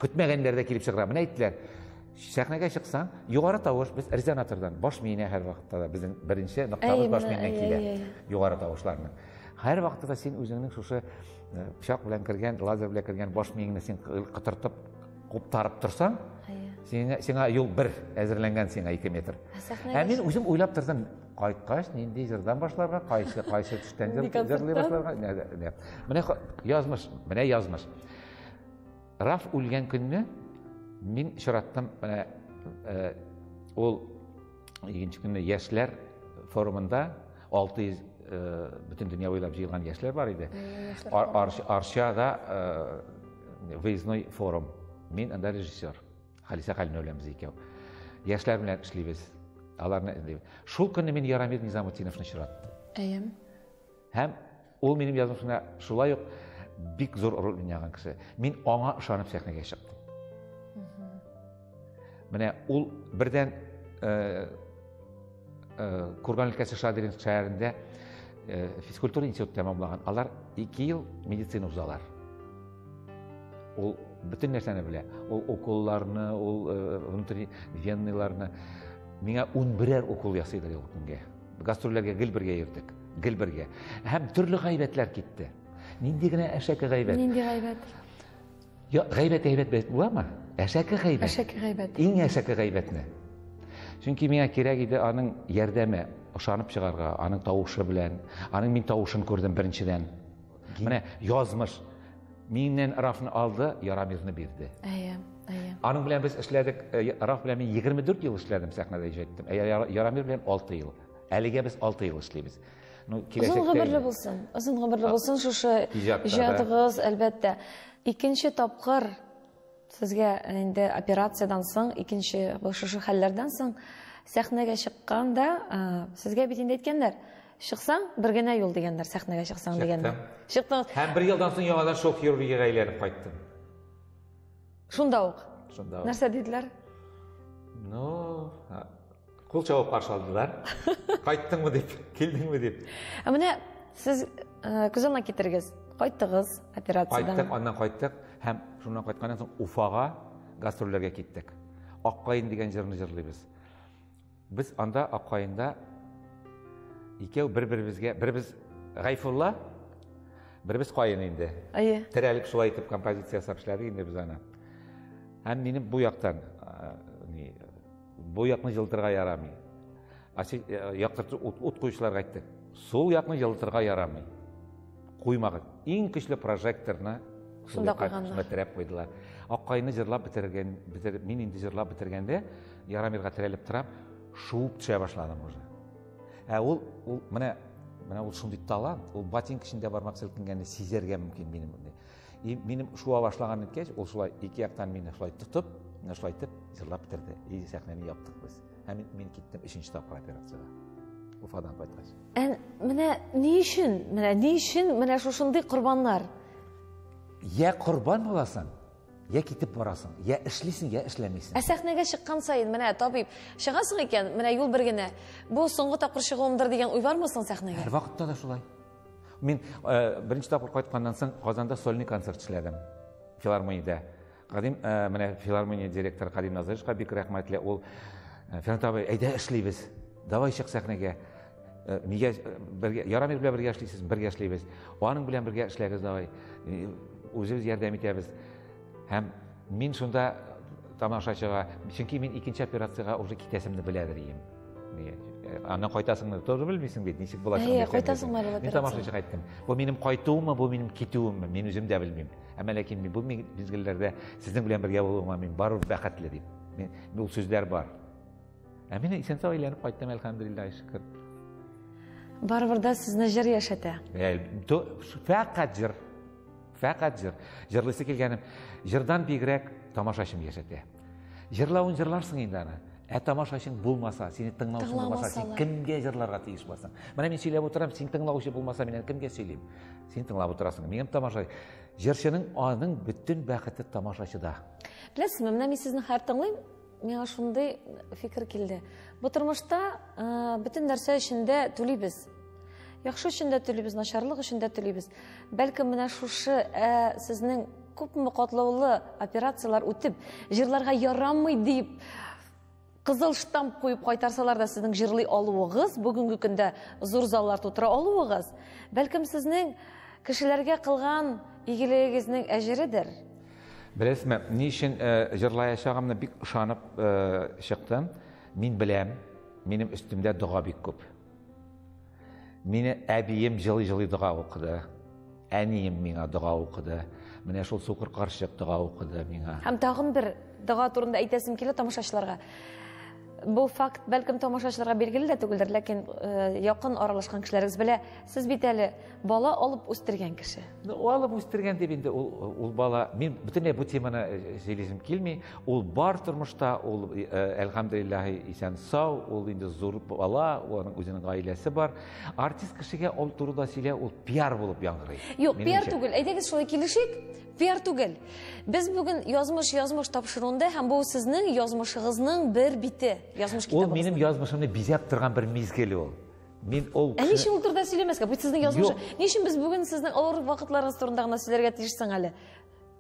Көтмәгәннәр дә килеп чыгыра. Менә әйттеләр, сәхнәгә чыксаң, югары тавыш, без резонатордан баш миенә һәр вакытта да безнең беренче ноктабыз баш миеннән килә. Югары тавышларны. Һәр вакытта да син үзеңнең шушы пычак белән кергән, лазер белән кергән баш миеңне син кытыртып Куптарып торсаң, сиңа, сиңа юл бер әзерләнгән сиңа ике метр. Ә мин үзем уйлап тордым, кайткач нинди җырдан башларга, кайсы кайсы төштән җырлый башларга. Менә язмыш, менә язмыш. Раф үлгән көнне мин чираттым, менә ул Икенче көнне яшьләр форумында 600 бөтен дөнья буйлап җыелган яшьләр бар иде. Арчада выездной форум. Мин анда режиссер. Халисә Хәлимә белән без икәү. Яшьләр белән эшлибез. Аларны эзлибез. Шул көнне мин Ярамир Низамутдиновны очраттым. Әйем. Һәм Ул минем язмышымда шулай ук бик зур роль уйнаган кеше. Мин аңа ышанып сәхнәгә чыктым. Менә ул бердән э, э, Курган өлкәсе Шадыринск шәһәрендә э, физкультура институтын тәмамлаган. Алар 2 ел медицина узалар. Ул бөтен нәрсәне белә. Ул уколларны, ул внутренний венныйларны. Миңа 11 укол ясыйдыр ел көнгә. Гастрольләргә гел бергә йөрдек, гел бергә. Һәм төрле гайбәтләр китте. Нинди генә әшәке гайбәт. Нинди гайбәт? Я, гайбәт әйбәт бәйт буламы? Әшәке гайбәт. Әшәке гайбәт. Иң әшәке гайбәтне. Чөнки миңа кирәк иде аның ярдәме, ошанып чыгарга, аның тавышы белән. Аның мин тавышын күрдем беренчедән. Менә язмыш миннән Рафны алды, Ярамирны бирде. Әйе, әйе. Аның белән без эшләдек, э, Раф белән мин 24 ел эшләдем сәхнәдә иҗаттым. Ә Ярамир белән 6 ел. Әлегә без 6 ел эшлибез. Ну, киләчәктә. Озын гомерле булсын. Озын гомерле булсын шушы иҗатыгыз, әлбәттә. Икенче тапкыр сезгә инде операциядән соң, икенче шушы хәлләрдән соң сәхнәгә чыкканда, э, сезгә бит инде әйткәннәр, Чыксаң, бер генә юл дигәннәр, сәхнәгә чыксаң дигәннәр. Чыктым. Чыктың. Һәм бер елдан соң яңадан шул хирургиягә әйләнеп кайттым. Шунда ук. Шунда ук. Нәрсә диделәр? Ну, кул чабып каршы алдылар. Кайттыңмы дип, килдеңме дип. Ә менә сез э, күз алдына китерегез. Кайттыгыз операциядән. Кайттык, аннан кайттык һәм шуннан кайтканнан соң Уфага гастрольләргә киттек. Аккаен дигән җырны җырлыйбыз. Без анда Аккаенда икәү бер-беребезгә, беребез Гайфулла, беребез Каен инде. Әйе. Терәлеп шулай итеп композиция ясап эшләдек инде без аны. Һәм минем бу яктан ни бу якны җылтырга ярамый. Ачы яктырту ут, ут куючыларга әйттек. Сул якны җылтырга ярамый. Куймагыз. Иң көчле прожекторны шунда куйганнар. Шунда терәп куйдылар. Аккаенны җырлап бетергән, бетер, мин инде җырлап бетергәндә Ярамирга терәлеп торам, шуып төшә башладым уже. Ә ул, ул менә менә ул шундый талант, ул ботинка эчендә бармак селкенгәнне сизәргә мөмкин минем. И минем шуа башлаган иткәч, ул шулай ике яктан мине шулай тотып, менә шулай итеп җырлап бетерде. И сәхнәне яптык без. Һәм мин, мин киттем өченче тапкыр операциягә. Уфадан кайткач. Ә менә ни өчен, менә ни өчен менә шушындый корбаннар? Я корбан буласың, Йә китеп барасың, йә эшлисең, йә эшләмисең. Ә сәхнәгә чыккан саен, менә табиб, чыгасың икән, менә юл бер генә. Бу соңгы тапкыр чыгуымдыр дигән уй бармы соң сәхнәгә? Һәр вакытта да шулай. Мин э, беренче тапкыр кайтканнан соң Казанда сольный концерт эшләдем. Филармониядә. Кадим э, менә филармония директоры Кадим Назыровичка бик рәхмәтле. Ул э, Фәнат абый, әйдә эшлибез. Давай чык сәхнәгә. Э, нигә э, бергә ярамир белән бергә эшлисез бергә эшлибез аның белән бергә эшләгез давай э, үзебез ярдәм итәбез һәм мин шунда тамашачыга чөнки мин икенче операциягә уже китәсемне беләдер ием аннан кайтасыңны тоже белмисең бит ничек була әйе кайтасыңмы бул мин тамашачыга айттым бу минем кайтуыммы бу минем китүемме мин үзем дә белмим әмма ләкин мин бу мизгелләрдә сезнең белән бергә булуыма мин барыбер бәхетле дип мин ул сүзләр бар Ә мин исәнсау әйләнеп кайттым, әлхәмдулиллаһи шөкер. Барыбер дә сезне җыр яшәтә. Ә, фәкать җыр. Фәкать җыр. Җырлыйсы килгәнем, җырдан бигрәк тамашачым яшәтә. Җырлавын җырларсың инде аны. Ә тамашачың булмаса, сине тыңлаучы булмаса, син кемгә җырларга тиеш буласың? Менә мин сөйләп утырам, син тыңлаучы булмаса, мин кемгә сөйлим? Син тыңлап утырасың. Мин тамаша. Җырчының аның бөтен бәхете тамашачыда. Беләсезме, менә мин сезне хәр тыңлыйм, миңа шундый фикер килде бу тормышта бөтен нәрсә өчен дә түлибез яхшы өчен дә түлибез начарлык өчен дә түлибез бәлкем менә шушы ә, сезнең күпме катлаулы операциялар үтеп җырларга ярамый дип кызыл штамп куеп кайтарсалар да сезнең җырлый алуыгыз бүгенге көндә зур заллар тутыра алуыгыз бәлкем сезнең кешеләргә кылган игелегегезнең әҗередер Беләсме, ни өчен җырлаячагымны бик ышанып чыктым. Мин беләм, минем өстемдә дога бик күп. Мине әбием җылый-җылый дога укыды. Әнием миңа дога укыды. Менә шул сукыр карчык дога укыды миңа. Һәм тагын бер дога турында әйтәсем килә тамашачыларга. Бу факт, бәлкем, тамашачыларга билгеле дә түгелдер, ләкин якын аралашкан кешеләрегез белә. Сез бит әле бала алып үстергән кеше ну алып үстергән дип инде ул ул бала мин бөтенләй бу теманы э, сөйлисем килми ул бар тормышта ул э, әлхәмдулиллаһи исән сау ул инде зур бала оның үзенең гаиләсе бар артист кешегә ул турыда сөйләү ул пиар булып яңгырый юк пиар түгел әйдәгез шулай килешик пиар түгел без бүген язмыш язмыш тапшыруында һәм бу сезнең язмышыгызның бер бите язмыш китабы ул минем язмышымны бизәп торган бер мизгел ул Мин ул Ә ни өчен ул турыда сөйләмәскә? Бу сезнең язмыш. Ни өчен без бүген сезнең авыр вакытларыгыз турында гына сөйләргә тиеш соң әле?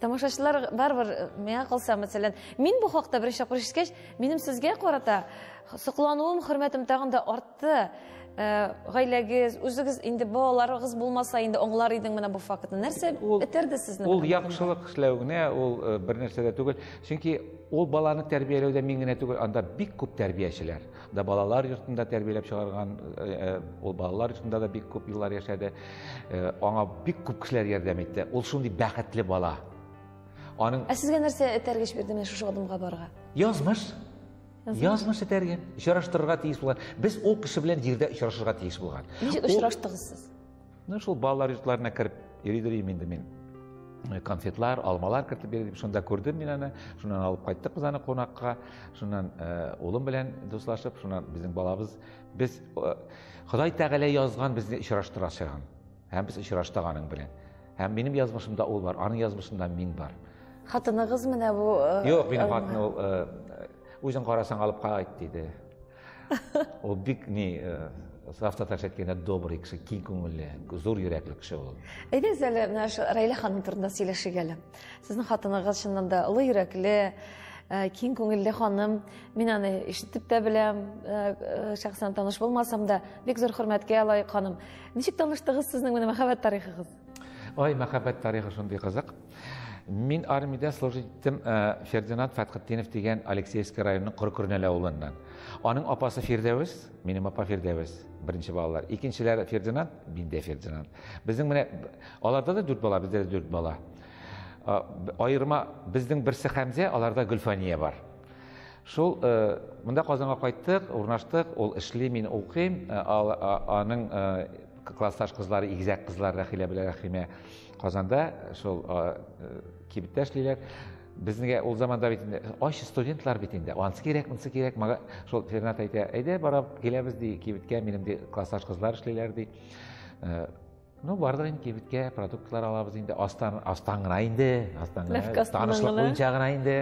Тамашачылар барыбер э, миңа калса, мәсәлән, мин бу хакта беренче тапкыр ишеткәч, минем сезгә карата соклануым, хөрмәтем тагын да артты. Э, гаиләгез, үзегез инде балаларыгыз булмаса, инде аңлар идең менә бу фактны. Нәрсә этәрде сезне? Ул яхшылык эшләү генә, ул э, бер нәрсә дә түгел. Чөнки ул баланы тәрбияләүдә мин генә түгел, анда бик күп тәрбиячеләр. да балалар йортында тәрбияләп чыгарган э, э, ул балалар йортында да бик күп еллар яшәде э, аңа бик күп кешеләр ярдәм итте ул шундый бәхетле бала аның ә сезгә нәрсә этәргеч бирде менә шушы адымга барырга язмыш язмыш этәргән очраштырырга тиеш булган без ул кеше белән җирдә очрашырга тиеш булган ничек очраштыгыз сез Ну, шул балалар йортларына кереп йөридер идем инде мин. Э, конфетлар, алмалар кертеп бирдем. Шунда күрдем мин аны. Шуннан алып кайттык без аны кунакка. Шуннан э, улым белән дуслашып, шуннан безнең балабыз без э, Ходай Тәгалә язган безне очраштыра чыган. Һәм без очраштык аның белән. Һәм минем язмышымда ул бар, аның язмышында мин бар. Хатыныгыз менә бу Юк, минем хатыным ул үзен карасаң алып кайт диде. Ул бик ни э, саф татарча әйткәндә добрый кеше, киң күңелле, зур йөрәкле кеше ул. Әйдәгез әле менә шу Рәйлә ханым турында сөйләшик әле. Сезнең хатыныгыз чыннан да олы йөрәкле, э, киң күңелле ханым. Мин аны ишетеп тә беләм, э, э, шәхсән таныш булмасам да, бик зур хөрмәткә лаек ханым. Ничек таныштыгыз сезнең менә мәхәббәт тарихыгыз? Ой, мәхәббәт тарихы шундый кызык. Мин армиядә служить иттем э, Фердинанд Фәтхетдинов дигән Алексеевский районының Коркөрнәл авылыннан. Аның апасы Фирдәвес, минем апа Фирдәвес, беренче балалар. Икенчеләре Фердинанд, миндә Фердинанд. Безнең менә аларда да дүрт бала, бездә дә дүрт бала. Э, Айырма безнең берсе Хәмзә, аларда Гөлфания бар. Шул э, монда Казанга кайттык, урнаштык, ул эшли, мин укыйм, аның классташ кызлар игезәк кызлар рәхилә белән рәхимә казанда шул кибеттә эшлиләр безнеге ул заманда бит инде ач студентлар бит инде анысы кирәк монысы кирәк мага шул фернат әйтә әйдә барып киләбез ди кибеткә минем ди классташ кызлар эшлиләр ди ну бардык инде кибеткә продуктлар алабыз инде астан астан гына инде астан гына танышлык буенча гына инде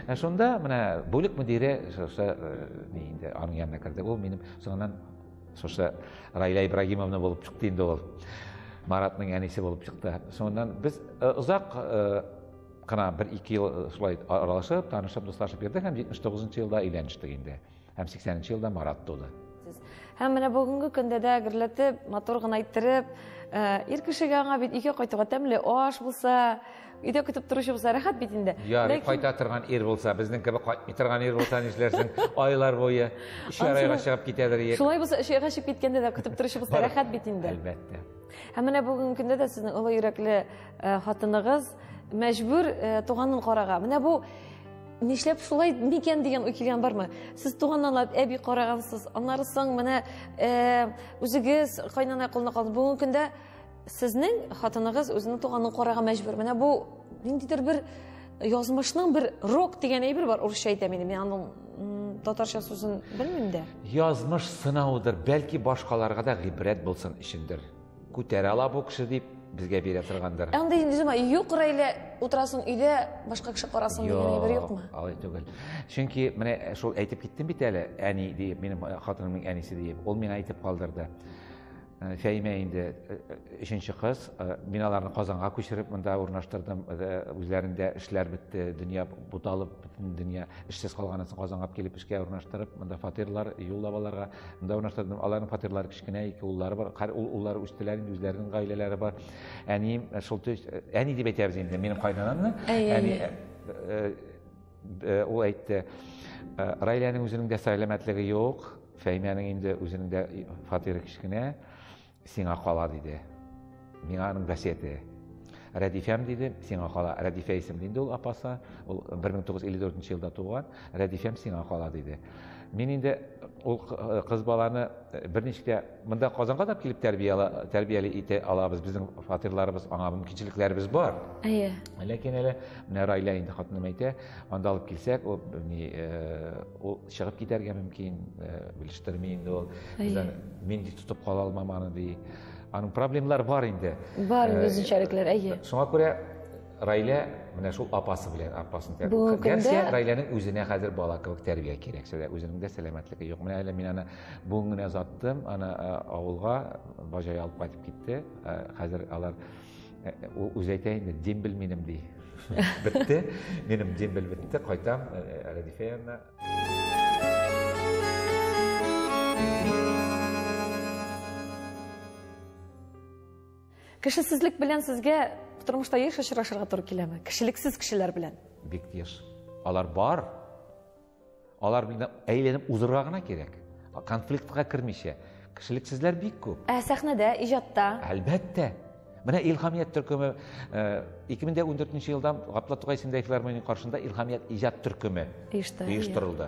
ә шунда менә бүлек мөдире шушы инде аның янына керде ул минем соңыннан Шушы Райля Ибрагимовна булып чыкты инде ул. Маратның әнисе булып чыкты. Соңыннан без э, озак э, кына бер ике ел э, шулай аралашып, танышып, дуслашып йөрдек һәм 79 елда өйләнештек инде. Һәм 80 нчы елда Марат туды. Һәм менә бүгенге көндә дә гөрләтеп, матур гына иттереп, ир кешегә аңа бит ике кайтуга тәмле аш булса, Өйдә көтеп торучы булса рәхәт бит инде. Ярый, Ләкин... кайта торган ир булса, безнең кебек кайтмый торган ир булса нишләрсең? Айлар буе өч айга чыгып китәдер ир. Шулай булса, өч айга чыгып киткәндә дә көтеп торучы булса рәхәт бит инде. Әлбәттә. Һәм менә бүгенге көндә дә сезнең олы йөрәкле э, хатыныгыз мәҗбүр э, туганын карага. Менә бу нишләп шулай микән дигән уй килгән бармы сез туганнанлап әби карагансыз аннары соң менә э, үзегез кайнана кулына калдыңыз бүгенге көндә Сезнең хатыныгыз үзенең туганын карарга мәҗбүр. Менә бу ниндидер бер язмышның бер рок дигән әйбер бар, урысча әйтәм инде. Мин аның татарча сүзен белмим дә. Язмыш сынавыдыр, бәлки башкаларга да гыйбрәт булсын өчендер. Күтәрә ала бу кеше дип безгә бирә торгандыр. Ә андый низма юк рәйлә утырасын өйдә башка кеше карасын дигән әйбер юкмы? Алай түгел. Чөнки менә шул әйтеп киттем бит әле, әни диеп, минем хатынымның әнисе диеп, ул миңа әйтеп калдырды. Э, фәимә инде э, э, өченче кыз мин аларны казанга күчереп монда урнаштырдым үзләрендә эшләр бетте дөнья буталып бөтен дөнья эшсез калганнан соң казанга килеп эшкә урнаштырып монда фатирлар юллап аларга монда урнаштырдым аларның фатирлары кечкенә ике уллары бар уллары үстеләр инде үзләренең гаиләләре бар әнием шул әни дип әйтәбез инде минем кайнанамны әни Э, ул әйтте э, раиләнең үзенең дә сәламәтлеге юк фәймәнең инде үзенең дә фатиры кечкенә сиңа кала диде миңа аның вәсияте рәдифәм диде сиңа кала рәдифә исемле инде ул апасы ул 1954 елда туган рәдифәм сиңа кала диде мин инде ул э, кыз баланы Берничек тә монда Казанга да килеп тәрбияла, тәрбияли итә алабыз. Безнең фатирларыбыз, аңа мөмкинчелекләребез бар. Әйе. Ләкин әле менә Райла инде хатыным әйтә, анда алып килсәк, ул ни ул чыгып китәргә мөмкин, белештерми инде ул. Бездән мин ди тотып кала алмам аны ди. Аның проблемалары бар инде. Бар, үзенчәлекләр, әйе. Шуңа күрә Райлә менә шул апасы белән апасын тәрбия. Бүгенге көндә Гәрчә Райләнең үзенә хәзер бала кебек тәрбия кирәк. Сәлә үзенең дә сәламәтлеге юк. Менә әле мин аны бүген генә озаттым, аны э, авылга бажай алып кайтып китте. Э, хәзер алар э, ул үзе әйтә инде, дембель минем ди. Бетте. Минем дембель бетте, кайтам Рәдифә янына. Кешесезлек белән сезгә тормышта еш очрашырга туры киләме? Кешелексез кешеләр белән. Бик еш. Алар бар. Алар белән әйләнеп узырга гына кирәк. Конфликтка кермичә. Кешелексезләр бик күп. Ә сәхнәдә, иҗатта? Әлбәттә. Менә Илхамият төркеме 2014 э, елда Гапла Тугай исемендәге филармония каршында Илхамият иҗат төркеме оештырылды.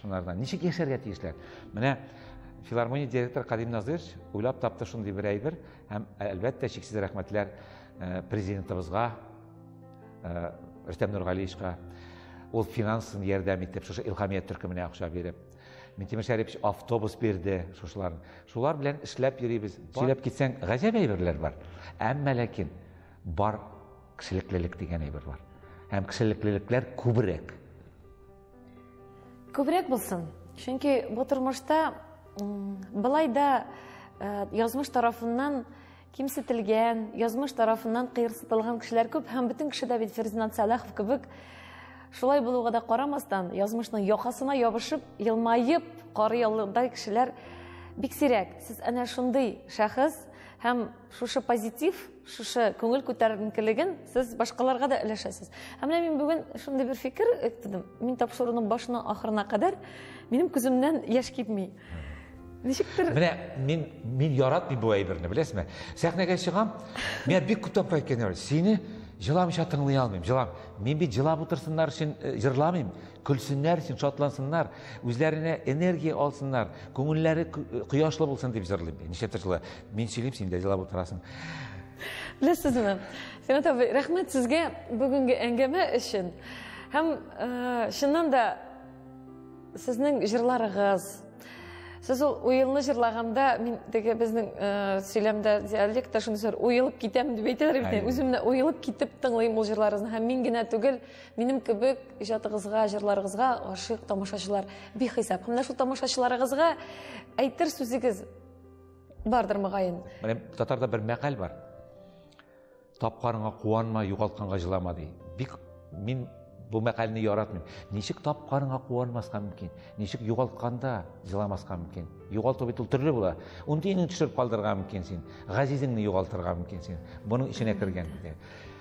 Шунардан ничек яшәргә тиешләр? Менә филармония директоры Кадим Назырович уйлап тапты шундый бер әйбер һәм әлбәттә чиксез рәхмәтләр э, президентыбызга э, Рөстәм Нургалиевичка ул финансын ярдәм итеп шушы илхамия төркеменә акча биреп Минтимер Шәрипович автобус бирде шушылар. Шулар белән эшләп йөрибез. Сөйләп китсәң, гаҗәп әйберләр бар. Әмма ләкин бар кешелеклелек дигән әйбер бар. Һәм кешелеклелекләр күбрәк. Күбрәк булсын. Чөнки бу тормышта былай да э, язмыш тарафыннан кимсетелгән, язмыш тарафыннан кыерсытылган кешеләр күп һәм бөтен кеше дә бит Фердинанд Сәлахов кебек шулай булуга да карамастан, язмышның якасына ябышып, елмаеп карый алырдай кешеләр бик сирәк. Сез әнә шундый шәхес һәм шушы позитив шушы күңел күтәренкелеген сез башкаларга да өләшәсез ә менә мин бүген шундый бер фикер әйттем мин тапшыруның башына ахырына кадәр минем күземнән яшь китми ничектер менә мин мин яратмыйм бу әйберне беләсезме сәхнәгә чыгам миңа бик күп тапкыр әйткәннәр сине җыламыйча тыңлый алмыйм җылам мин бит җылап утырсыннар өчен э, җырламыйм көлсеннәр өчен шатлансыннар үзләренә энергия алсыннар күңелләре кояшлы булсын дип җырлыйм нишләптер шулай мин сөйлим син дә җырлап утырасың беләсезме сенат абый рәхмәт сезгә бүгенге әңгәмә өчен һәм э, чыннан да сезнең җырларыгыз сез ул уелны җырлаганда мин теге безнең э, сөйләмдә диалектта шуны сөйләр уелып китәм дип әйтәләр бит үзем менә уелып китеп тыңлыйм ул җырларыгызны һәм мин генә түгел Минем кебек иҗатыгызга, җырларыгызга гашыйк тамашачылар бихисап. Һәм менә шул тамашачыларыгызга әйтер сүзегез бардыр мөгаен. Менә татарда бер мәкаль бар. Тапканыңа куанма, югалтканга җылама ди. Бик мин бу мәкальне яратмыйм. Ничек тапканыңа куанмаска мөмкин? Ничек югалтканда җыламаска мөмкин? Югалту бит ул төрле була. Ундиңне төшереп калдырырга мөмкин син. Газизеңне югалтырга мөмкин син. Буның эченә кергән.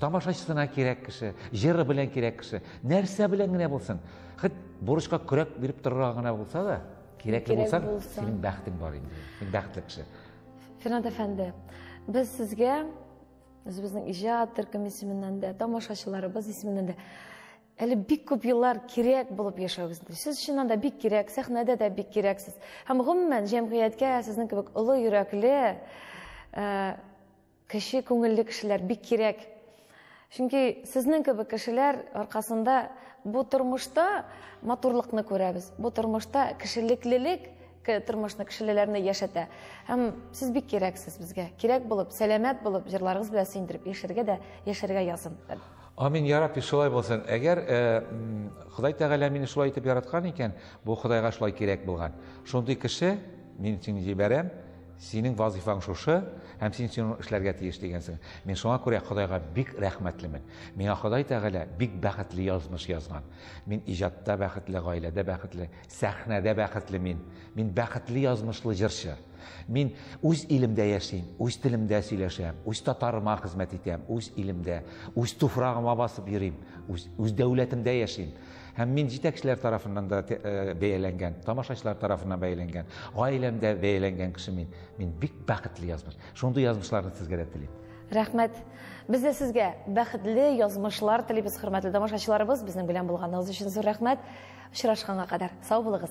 Тамашачысына кирәк кеше, җыры белән кирәк кеше, нәрсә белән генә булсын, хит бурычка көрәк биреп торырга гына булса да, кирәкле булсаң, синең бәхтең бар инде. Син бәхетле кеше. Фернад әфәнде, без сезгә үзебезнең иҗат төркем исеменнән дә, тамашачыларыбыз исеменнән дә әле бик күп еллар кирәк булып яшәвегез сез чыннан да бик кирәк сәхнәдә дә бик кирәксез һәм гомумән җәмгыятькә сезнең кебек олы йөрәкле э, Кече күңелле кешеләр бик кирәк. Чөнки сезнең кебек кешеләр аркасында бу тормышта матурлыкны күрәбез. Бу тормышта кешелеклелек тормышны кешелеләрне яшәтә. Һәм сез бик кирәксез безгә. Кирәк булып, сәламәт булып, җырларыгыз белән сөендереп яшәргә дә, яшәргә язын. Амин, я Рабби, шулай булсын. Әгәр э, Ходай Тәгалә мине шулай итеп яраткан икән, бу Ходайга шулай кирәк булган. Шундый кеше мин сине җибәрәм, Синең вазыйфаң шушы, һәм син шуны эшләргә тиеш дигәнсең. Мин шуңа күрә Ходайга бик рәхмәтлемен. Миңа Ходай Тәгалә бик бәхетле язмыш язган. Мин иҗатта бәхетле, гаиләдә бәхетле, сәхнәдә бәхетле мин. Мин бәхетле язмышлы җырчы. Мин үз илемдә яшим, үз телемдә сөйләшәм, үз татарыма хезмәт итәм, үз илемдә, үз туфрагыма басып йөрим, үз, үз дәүләтемдә яшим. Һәм мин җитәкчеләр тарафыннан да бәяләнгән, тамашачылар тарафыннан бәяләнгән, гаиләмдә бәяләнгән кеше мин. Мин бик бәхетле язмыш. Шундый язмышларны сезгә дә телим. Рәхмәт. Без дә сезгә бәхетле язмышлар телибез, хөрмәтле тамашачыларыбыз. Безнең белән булганыгыз өчен зур рәхмәт. Очрашканга кадәр сау булыгыз.